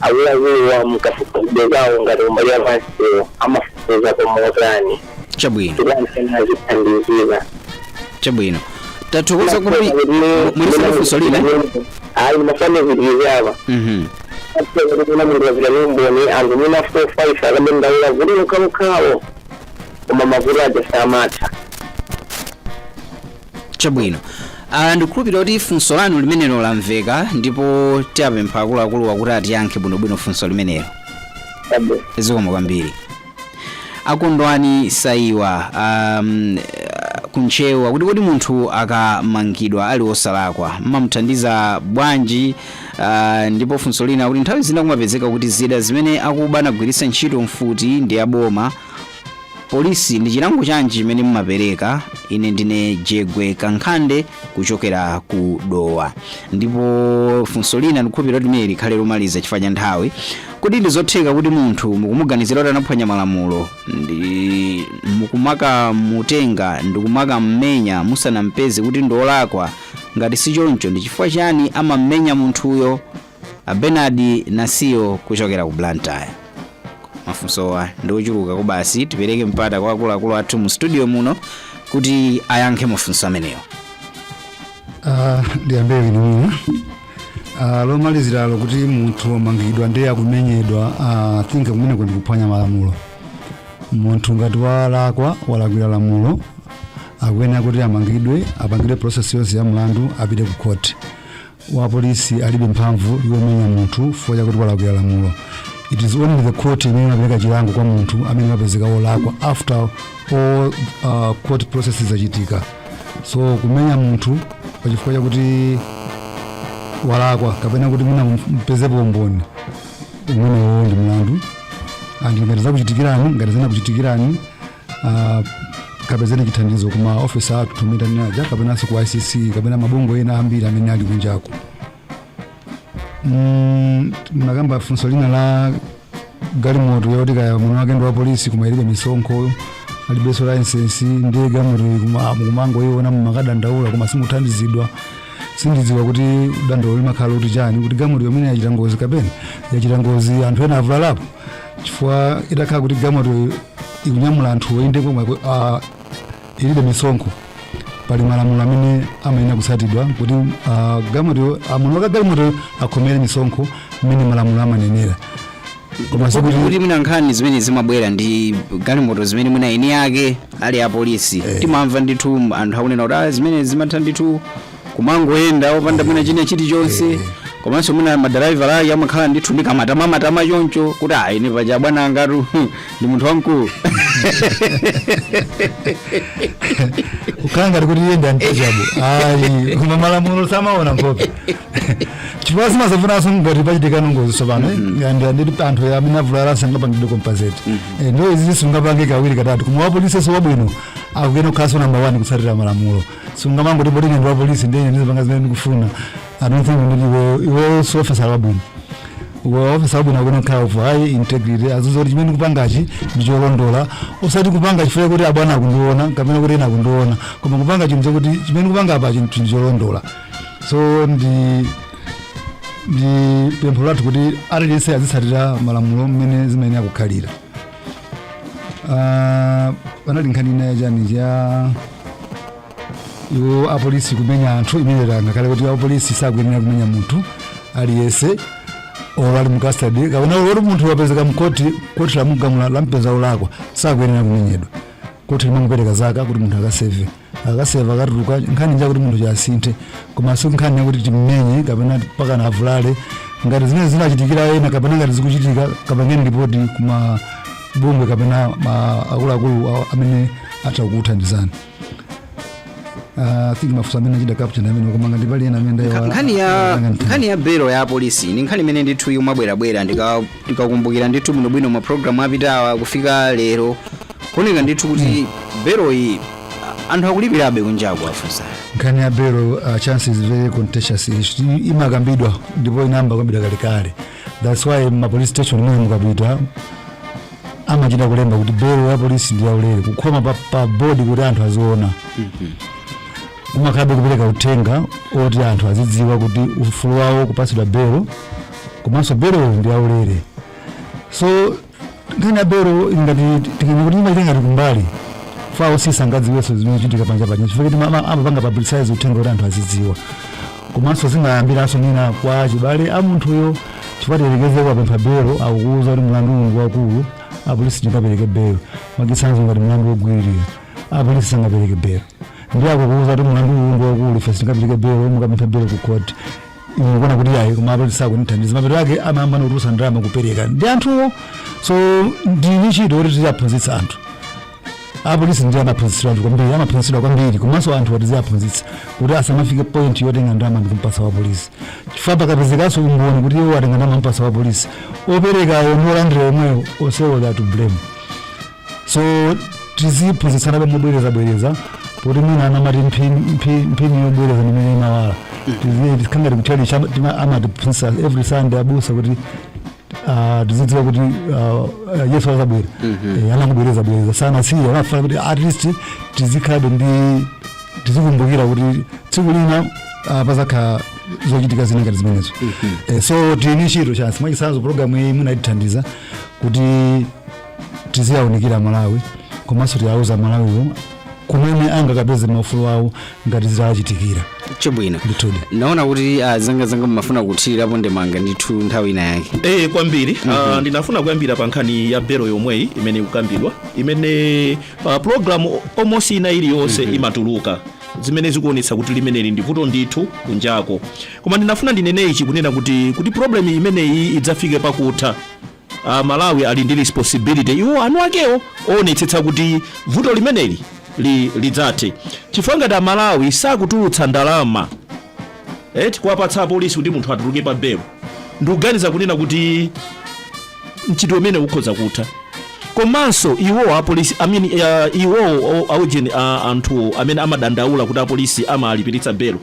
Akuluakuluwa mukafukufuku wawo ngati kumbali ya pamsewu amafufuza komotani chabwino kuti amene azithandizira chabwino tathokoza kwambiri muli ndi funso lina ayi ndimafuna ndipitirize apa Mhm. apeza kuti kuna munthu wazira ndi umboni anthu mina four five akabendaula kuti mukhamukhawo koma mavuto aja samatha Chabwino. Ah, ndikukhulupirira kuti funso lanu limenelo lamveka ndipo tiapempha akuluakuluwa kuti atiyankhe bwinobwino funso limenelo. zikomo kwambiri akondwani saiwa um, ku Ntcheu kuti kodi munthu akamangidwa ali osalakwa mmamuthandiza bwanji uh, ndipo funso lina kuti nthawi zina kumapezeka kuti zida zimene akuba anagwiritsa ntchito mfuti ndi aboma polisi ndi chilango chanji chimene mumapereka? Ine ndine Jegwe Kankhande kuchokera ku Dowa. Ndipo funso lina ndikukhulupirira kuti limene likhale lomaliza chifukwa cha nthawi. Kodi ndi zotheka kuti munthu mukumuganizira kuti anaphwanya malamulo ndiye mukumakamutenga ndi kumakammenya musanampeze kuti ndi olakwa? Ngati si choncho ndi chifukwa chiyani amammenya munthuyo? a Bernard Nasiyo kuchokera ku Blantyre mafunsowa ndi ochuluka koma basi tipereke mpata kwa akuluakulu athu mu studio muno kuti ayankhe mafunso amenewo Ah, ndiyambe ine mwina Ah, lomaliziralo kuti munthu wamangidwa ndiye akumenyedwa ah, I think kumeneko ndi kuphwanya malamulo munthu ngati walakwa walakwira lamulo akuyenera kuti amangidwe apangidwe process yonse ya mlandu apite ku court wapolisi alibe mphamvu yomenya munthu chifukwa chakuti walakwira lamulo it is only the court imene imapereka chilango kwa munthu amene wapezeka wolakwa after all uh, court processes zachitika so kumenya munthu pa chifukwa chakuti walakwa kapena kuti mwina mpezepo umboni umenewo ndi mlandu and ngati zakuchitikirani ngati zinakuchitikirani ah, kapezeni chithandizo kuma ofisi athu tomwe tanena aja kapenanso ku icc kapena mabungwe ena ambiri amene ali kunjako Mm, munakamba funso lina la galimoto yoti kaya mwini wake ndi wa polisi koma ilibe misonkho alibenso layisensi ndiye galimoto kuma- mukumangoyiona mumakadandaula koma simuthandizidwa sindidziwa kuti dandaulo limakhala kuti chani kuti galimoto yomwe yachita ngozi kapena yachita ngozi anthu ena avulalapo chifukwa itakhala kuti galimoto ikunyamula anthu ikuyenda koma ku- ah, ilibe misonkho pali malamulo amene amayenera kutsatidwa kuti ah, galimoto mwini wake wa galimoto akhomere misonkho mmene malamulo amanenera koma kuti mwina nkhani zimene zimabwera ndi galimoto zimene mwina eni ake ali apolisi timamva ndithu anthu akunena kuti "Ah, zimene zimatha ndithu kumangoyenda opanda mwina china chilichonse komanso mwina madalaivala ake amakhala ndithu ndi kamatama matama choncho kuti ayi paja bwana angatu ndi munthu wamkulu kukhala ngati kuti iye ndi untouchable ayi koma malamulo samaona nkhope chifukwa zimadzavutanso ngati pachitika ngozi tsopano and anthu amene avulala sangapangidwe compensated izi sizingapangike kawiri katatu koma wapolisinso wabwino akuyenera kukhalanso namba 1 kutsatira malamulo sungamangoti poti ndi wapolisi ndine ndizipanga zimene ndikufuna i don't think kuti iwe si officer wabwino Iwe officer wabwino akuyenera kukhala of high integrity azidziwa kuti chimene ndikupangachi ndi cholondola osati kupanga chifukwa kuti abwana akundiona kapena kuti ena akundiona koma kupanga chinthu chakuti chimene ndikupanga apa chinthuchi ndi cholondola so ndi ndi pempho lathu kuti aliyense azitsatira malamulo mmene zimayenera kukhalira Ah, panali nkhani ina yachani cha iwo apolisi kumenya anthu imene ndanena kale kuti apolisi sakuyenera kumenya munthu aliyense olo ali mu custody kapena olo munthu wapezeka mkoti koti lamugamula lampeza olakwa sakuyenera kumenyedwa koti limangopereka zaka kuti munthu akaseve akaseva katuluka nkhani njakuti munthu asinthe koma si nkhani yakuti timmenye kapena mpakana avulale ngati zimene zinachitikira ena kapena ngati zikuchitika kapangeni ripoti kuma bungwe kapena ma- akuluakulu a- amene atha kukuthandizani Ah, think mafunso amene achita capture amene koma ngati pali ena amene Nkha- ndayiwala- nkhani ya ndayanga mtima. nkhani ya belo ya polisi ni nkhani imene ndithu yomabwerabwera ndika ndikakumbukira ndithu bwinobwino mapulogalamu apitawa kufika lero kuoneka ndithu kuti beloyi a- anthu akulipirabe kunjaku afunsa nkhani ya belo uh, Chancy is very contentious issue. I- imakambidwa ndipo inayamba kukambidwa kalekale thats why mapolice station ambiri mukapita amachita kulemba kuti belo ya polisi ndi yaulere kukhoma pa, pa bodi kuti anthu aziona kumakhalabe kupereka uthenga oti anthu azidziwa kuti ufulu wawo kupatsidwa belo komanso belo ndi yaulere so nkhani ya belo ili ngati tinene kuti imaita ngati kumbali kwa maofisi sangadziwenso zimene zikuchitika panja panja chifukwa kuti ama- amapanga publicize uthenga kuti anthu azidziwa komanso zimayambiranso zina kwa achibale a munthuyo chifukwa tiyerekeze mwapempha belo akukuwuza kuti mlandu uwu waukulu apolisi sitingapereke belo mwachitsanzo ngati mlandu wogwiririra apolisi sangapereke belo ndiye akukuwuza kuti mlandu uwu waukulu ife sitingapereke belo mukapemphe belo ku court iwe ukuona kuti ayi koma apolisi sakunithandiza mapeto ake amayamba kutulutsa ndalama kupereka ndi anthuwo so ndi ntchito kuti tiziwaphunzitsa anthu apolisi ndi amaphunzitsidwa anthu kwambiri amaphunzitsidwa kwambiri komanso anthu tiziwaphunzitsa kuti asamafike point yotenga ndalama ndi kumpasa wa polisi chifukwa pakapezekanso umboni kuti iwo atenga ndalama kumpasa wa polisi operekawo ndi olandira omwewo onsewo they are to blame so tiziphunzitsanabe mobwerezabwereza poti mwina amati mphini- mphi- mphini yobwereza nimene imawala ndiye zikhala ngati kuchalichi amatiphunzitsa every sunday abusa kuti ah, tizidziwa kuti ah, ah, yesu azabwera Eh, amangobwerezabwereza sanasiye amafuna kuti at least tizikhalabe ndi tizikumbukira kuti tsiku lina ah, pazakhala zochitika zina ngati zimenezo Eh, so tili ni ntchito Chancy mwachitsanzo programu iyi munatithandiza kuti tiziwaunikira amalawi komanso tiwauza amalawiwo kumene angakapeze maufulu awo ngati zitachitikira chabwino ndinaona kuti ah, azanga azanga mumafuna kuthirirapo ndemanga ndithu nthawi ina yake Eh kwambiri Ah, ndinafuna kuyambira pa nkhani ya belo yomweyi imene ikukambidwa imene pa program almost ina iliyonse imatuluka zimene zikuonetsa kuti limeneli ndi vuto ndithu kunjako koma ndinafuna ndinene ichi kunena kuti kuti problem imeneyi idzafike pakutha a Malawi ali ndi responsibility iwo eni akewo oonetsetsa kuti vuto limeneli li, lidzathe chifukwa ngati a Malawi sakutulutsa ndalama eti kuwapatsa apolisi kuti munthu atuluke pa belo ndikuganiza kunena kuti mchitidwe umenewu ukhoza kutha komanso iwo apolisi I mean, uh, iwo o- aujeni uh, anthu amene amadandaula kuti apolisi amalipiritsa belo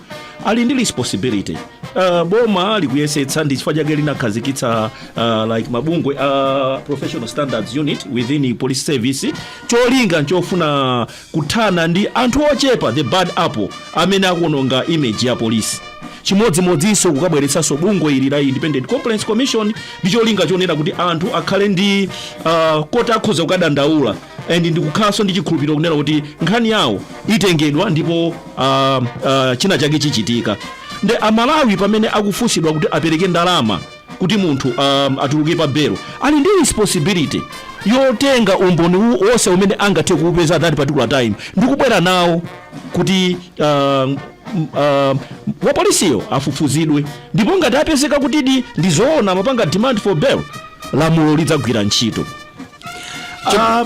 ali ndi responsibility uh, boma likuyesetsa ndi chifukwa chake linakhazikitsa uh, like mabungwe uh, professional standards unit within police service cholinga chofuna kuthana ndi anthu ochepa the bad apple amene akuononga image ya polisi chimodzimodzinso kukabweretsanso bungwe ili la independent complaints commission ndi cholinga chonena kuti anthu akhale ndi uh, koti akhoza kukadandaula and ndi kukhalanso ndi chikhulupiriro kunena kuti nkhani yawo itengedwa ndipo uh, uh, china chake chichitika nde amalawi pamene akufunsidwa kuti apereke ndalama kuti munthu um, atuluke pa belo ali ndi responsibility yotenga umboni u- wonse umene angathe kuupeza at that particular time ndi kubwera nawo kuti um, um, wapolisiyo afufuzidwe ndipo ngati apezeka kutidi ndi zoona amapanga demand for bail lamulo lidzagwira ntchito Ah,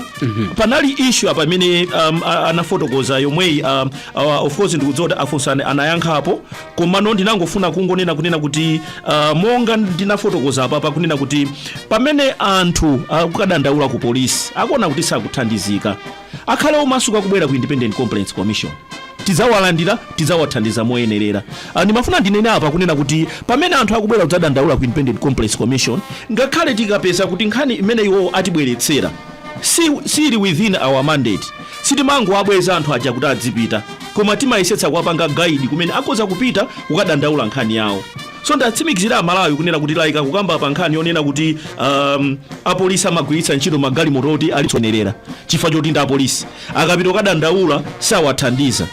panali issue apa imene um, a- anafotokoza yomweyi um, uh, of course ndikudziwa kuti a funsani anayankhapo komano ndinangofuna kungonena kunena kuti uh, monga ndinafotokoza apapa kunena kuti pamene anthu akukadandaula ku polisi akuona kuti sakuthandizika Akhale omasuka kubwera ku Independent Complaints Commission. Tidzawalandira, tidzawathandiza moyenerera. Ah, Ndimafuna ndinene apa kunena kuti pamene anthu akubwera kudzadandaula ku Independent Complaints Commission, ngakhale tikapeza kuti nkhani imene iwo atibweretsera si sili within our mandate, sitimangowabweza anthu aja kuti azipita, koma timayesetsa kuwapanga guide kumene akhoza kupita kukadandaula nkhani yawo. So ndiwatsimikizire amalawi kunena kuti like kukamba pa nkhani yonena kuti um, apolisi amagwiritsa ntchito magalimoto oti alitsonerera chifukwa choti ndi apolisi akapita kukadandaula sawathandiza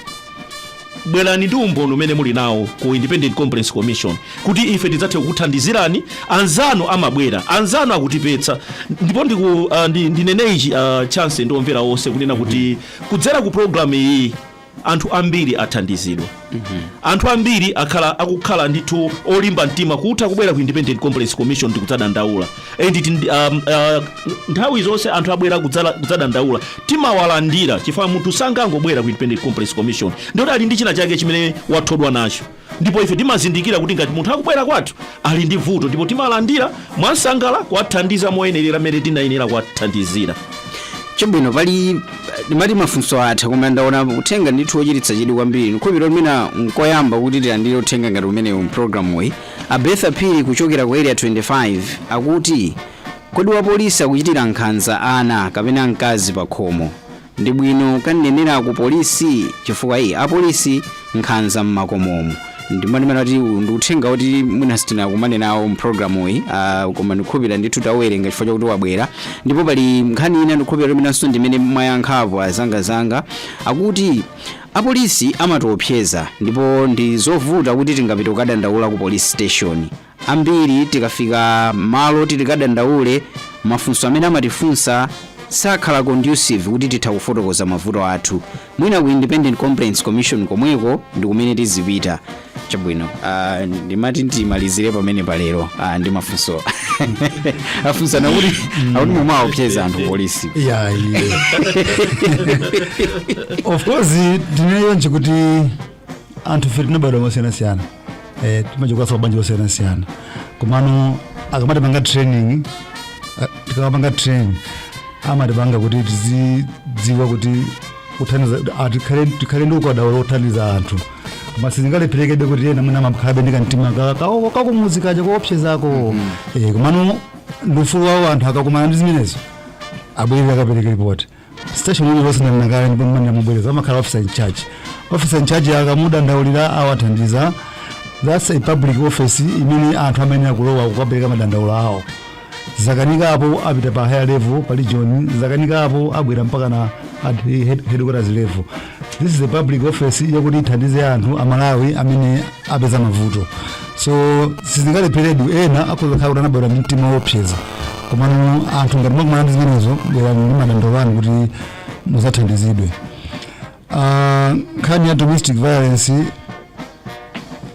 bwerani ndi umboni umene muli nawo ku independent complaints commission kuti ife tidzathe kukuthandizirani anzanu amabwera anzanu akutipeza ndipo ndiku, uh, ndi, ndinene ichi uh, chance ndi omvera onse kunena kuti kudzera ku programu iyi anthu ambiri athandizidwa anthu ambiri akhala akukhala ndithu olimba mtima kutha kubwera ku independent complaints commission ndikudzadandaula and it, um, uh, nthawi zonse anthu abwera kudzala- kudzadandaula timawalandira chifukwa munthu sangangobwera ku independent complaints commission ndiye kuti ali ndi china chake chimene wathodwa nacho ndipo ife timazindikira kuti ngati munthu akubwera kwathu ali ndi vuto ndipo timalandira mwansangala kuwathandiza moyenerera mmene tinayenera kuwathandizira chabwino pali ndimati mafunso atha koma ndaona uthenga ndithu wochititsa chidwi kwambiri ndikhulupirira mwina nkoyamba kuti tilandire uthenga ngati umenewu mpulogalamu iyi a Betha phiri kuchokera ku area 25 akuti kodi wapolisi akuchitira nkhanza ana kapena mkazi pa khomo Ndibwino kukanenera ku police chifukwa ii apolisi nkhanza mmakomomu ndimanena kuti uwu ndi uthenga woti mwina sitinakumane nawo mu program iyi uh, koma ndikhulupira ndithu tauwerenga chifukwa chakuti wabwera ndipo pali nkhani ina ndikhulupira kuti imeneyonso ndimene mwayankhapo azangazanga akuti apolisi amatiopseza ndipo ndi zovuta kuti tingapite kukadandaula ku police station Ambiri tikafika malo oti tikadandaule, mafunso amene amatifunsa sakhala conducive kuti titha kufotokoza mavuto athu. Mwina ku Independent Complaints Commission komweko ndi kumene tizipita. Chabwino, ah, ndimati ndimalizire pamene palero ah, ndi mafunso afunsa aja kuti akuti mumaopseza anthu polisi. yeah, yeah. of course ndineyo ndinene kuti anthu fe tinabadwa mosiyanasiyana eh, timachokanso mmabanja osiyanasiyana komano akamatipanga training ah, tikamapanga training amatipanga kuti tizidziwa kuti kuthandiza ah, tikhale tikhale ndi ukadaulo wothandiza anthu koma sizingalepherekebe kuti ena mwina amakhalabe ndi kamtima ka- ka- kakumuzi kaja koopsezako Eh, komano ndi ufulu wawo anthu akakumana ndi zimenezo abwere akapereke ripoti station iliyonse ndanena kale ndipo ndinena mobwereza amakhala officer in charge officer in charge akamudandaulira awathandiza that's a public office imene anthu amayenera kulowa kukapereka madandaulo awo zakanika apo apita pa higher level pa region zakanika apo abwera mpaka na at head- headquarters level This is a public office yakuti ithandize anthu a Malawi amene apeza mavuto. So sizingalepherekenso ena akhoza kukhala kuti anabadwa ndi mtima woopseza. Komano anthu ngati mwakumana ndi zimenezo bwerani ndi madandaulo anu kuti muzathandizidwe. Ah, nkhani ya domestic violence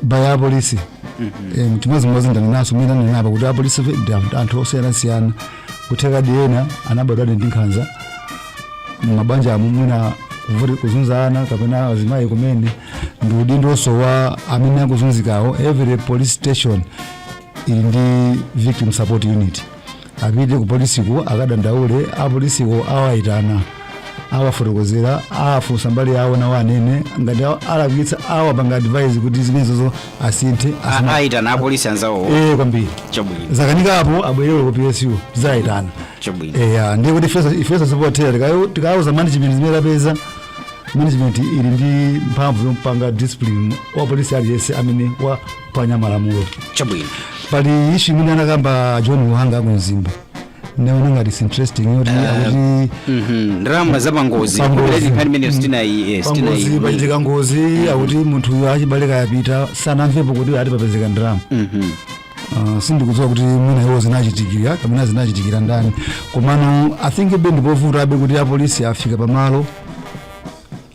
by apolisi Em, chimodzimodzi ndanenanso mmene ndanena apa kuti apolisi fe ndi anthu- anthu osiyanasiyana kuthekadi ena anabadwadi ndi nkhanza mmabanja mwawo mwina kuvuti kuzunza ana kapena azimayi kumene ndi udindonso wa amene akuzunzikawo every police station ili ndi victim support unit apite kupolisiko akadandaule apolisiko awayitana awafotokozera afunsa mbali yawo nawo anene ngati awa- alakwitsa awapanga advise kuti zimenezozo asinthe A- asama- ayitana apolisi anzawo Eh, kwambiri chabwino zakanika apo abwerere ku psu zayitana chabwino eya ndiye kuti ifenso ifenso pothera tikayo- tikauza management zimene tapeza management ili ndi mphamvu yopanga discipline wa polisi aliyense amene wa waphwanya malamulo chabwino pali issue imene anakamba john luhanga ku mzimba naona ngati interesting yoti akuti Mhm, ndalama za pangozi Pangozi. Populate nkhani imeneyo sitinayi eh, pangozi sitinayi pachitika ngozi akuti munthu uyo achibale akapita sanamvepo kuti ati papezeka ndalama Mhm. Uh, sindikudziwa kuti mwina iwo zinachitikira kapena zinachitikira ndani komano i think abe ndipovuta abe kuti apolisi afika pamalo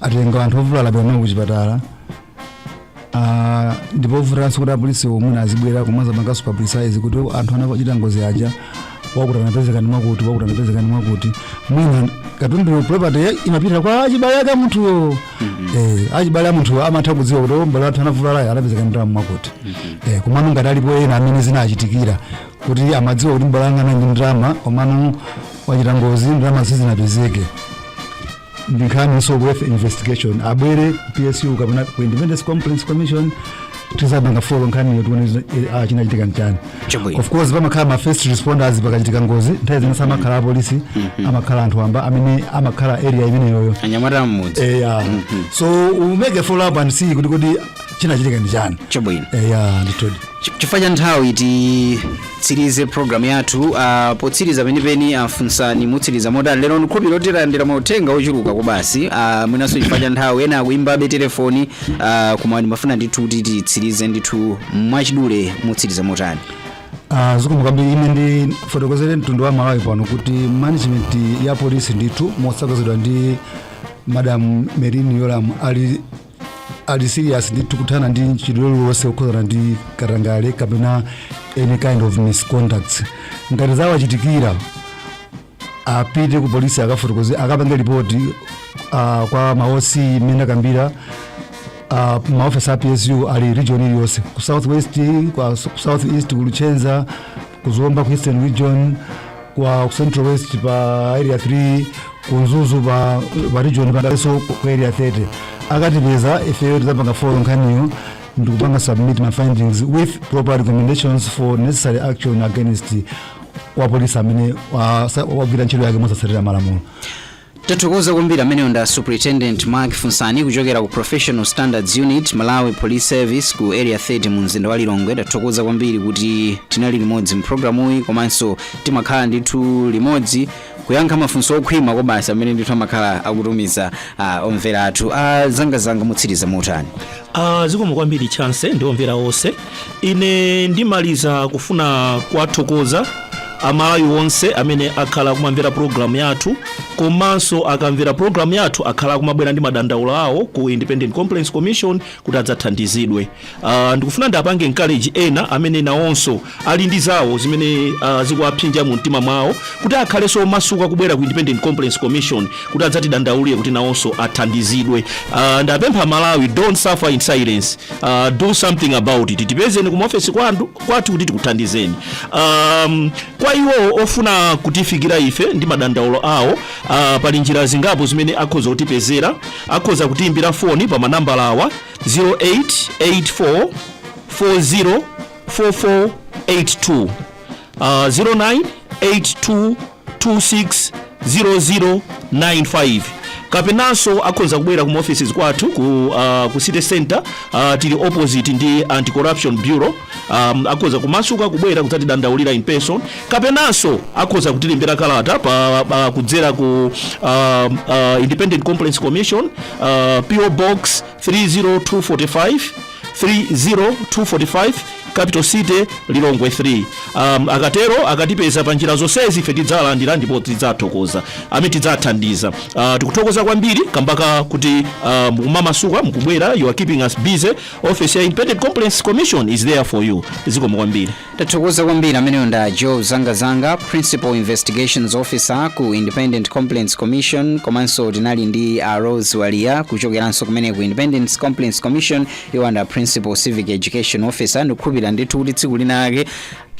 atenga anthu ovulala apita kuchipatala Ah, ndi povutanso kuti apolisi omwe azibwera komanso apanganso publicize kuti anthu anachita ngozi aja wakuti anapezeka ndi mwakuti wakuti anapezeka ndi mwakuti mwina katundu property ya- imapita kwa achibale ake a munthuyo eh, achibale a munthuyo amatha kudziwa kuti abale athu anavulalayo anapezeka ndi ndalama mwakuti eh, komano ngati alipo ena amene zinachitikira kuti amadziwa kuti m'bale wanga anali ndi ndalama komano wachita ngozi ndalama sizinapezeke ndinkhaninso worth investigation abwere psu kapena ku independent complaints commission tizapanga follow nkhaniyo tione zina- eh, ah, chinachitika nchani Chabwino. of course pamakhala ma first responders pakachitika ngozi nthawi zina samakhala apolisi amakhala anthu wamba amene amakhala area imeneyoyo anyamata a mmudzi eya so we make a follow up and see kuti kodi chinachitika ndi chani chabwino eya ndithudi Ch- chifukwa cha nthawi titsirize programu yathu uh, potsiriza penipeni afunsani mutsiriza motani lero ndikhulupirira kuti talandira mauthenga ochuluka kwabasi uh, mwinanso chifukwa cha nthawi ena akuimbabe telefoni uh, koma ndimafuna ndithu kuti titsirize ndithu mwachidule mutsiriza motani Ah, zikomo kwambiri ine ndifotokozere mtundu wa malawi pano kuti management ya polisi ndithu motsogozedwa ndi madam merlyne yolamu ali ali serious ndithu kuthana ndi mchitidwe uliwonse wokhudzana ndi katangale kapena any kind of misconduct ngati zawachitikira apite ku polisi akafotokoze akapange lipoti uh, kwa ma OC mmene ndakambira uh, maofesi a psu ali region iliyonse ku southwest kwa- ku southeast ku luchenza ku zomba ku eastern region kwa ku central west pa area 3 ku mzuzu pa, pa region penanso ku area 30 akatipeza ifeyo tidzapanga follow nkhaniyo ndikupanga submit ma findings with proper recommendations for necessary action against wapolisi amene wa- sa- wagwira ntchito yake mosatsatira malamulo Tathokoza kwambiri amenewo nda Superintendent Mark Funsani kuchokera ku Professional Standards Unit, Malawi Police Service ku Area 30 mu mzinda wa Lilongwe. Tathokoza kwambiri kuti tinali limodzi mu programu iyi komanso timakhala ndithu limodzi kuyankha mafunso okhwima kobasa amene ndithu amakhala akutumiza ah, omvera athu. Ah, zangazanga mutsiriza motani? Ah, zikomo kwambiri chance ndi omvera onse ine ndimaliza kufuna kuwathokoza amalawi onse amene akhala kumamvera programu yathu komanso akamvera programu yathu akhala kumabwera ndi madandaulo awo ku independent complaints commission kuti adzathandizidwe Ah, ndikufuna ndiapange encourage ena amene nawonso ali ndi zawo zimene uh, zikuwaphinja mu mtima mwawo kuti akhalenso omasuka kubwera ku independent complaints commission kuti adzatidandaulire kuti nawonso athandizidwe uh, ndapempha amalawi don't suffer in silence uh, do something about it tipezeni ku maofesi kwandu- kwathu kuti tikuthandizeni um, kwa iwo ofuna kutifikira ife ndi madandaulo awo uh, pali njira zingapo zimene akhoza kutipezera akhoza kutiimbira foni pa manambala awa 0884 40 4482 uh, 0982260095 kapenanso akhoza kubwera ku ma offices kwathu ku, uh, ku city center uh, tili opposite ndi anti corruption bureau um, akhoza kumasuka kubwera kudzatidandaulira in person kapenanso akhoza kutilembera kalata pa, pa kudzera ku um, uh, independent complaints commission uh, po box 30245 30245 capital city lilongwe 3 um, akatero akatipeza pa njira zonsezi ife tidzalandira ndipo tidzathokoza amene tidzathandiza uh, tikuthokoza kwambiri kambaka kuti uh, mukumamasuka mukubwera you are keeping us busy office ya independent complaints commission is there for you zikomo kwambiri Tathokoza kwambiri amenewo nda Joe Zangazanga Principal Investigations Officer ku Independent Complaints Commission komanso tinali ndi a Rose Walia kuchokeranso kumene ku Independent Complaints Commission iwo nda Principal Civic Education Officer ndikukhulupirira ndithu kuti tsiku linalake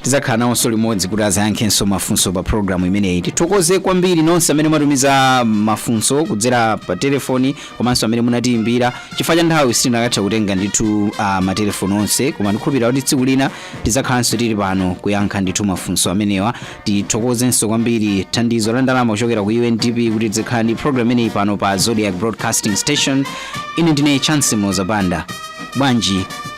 tidzakhala nawonso limodzi kuti azayankhenso mafunso pa programu imeneyi tithokoze kwambiri nonse amene mwatumiza mafunso kudzera pa telefoni komanso amene munatiyimbira chifukwa cha nthawi sitinakatha kutenga ndithu uh, matelefoni onse koma ndikhulupirira kuti tsiku lina tidzakhalanso tili pano kuyankha ndithu mafunso amenewa tithokozenso kwambiri thandizo la ndalama kuchokera ku undp kuti tizikhala ndi program imeneyi pano pa zodiak broadcasting station ine ndine chance muloza banda bwanji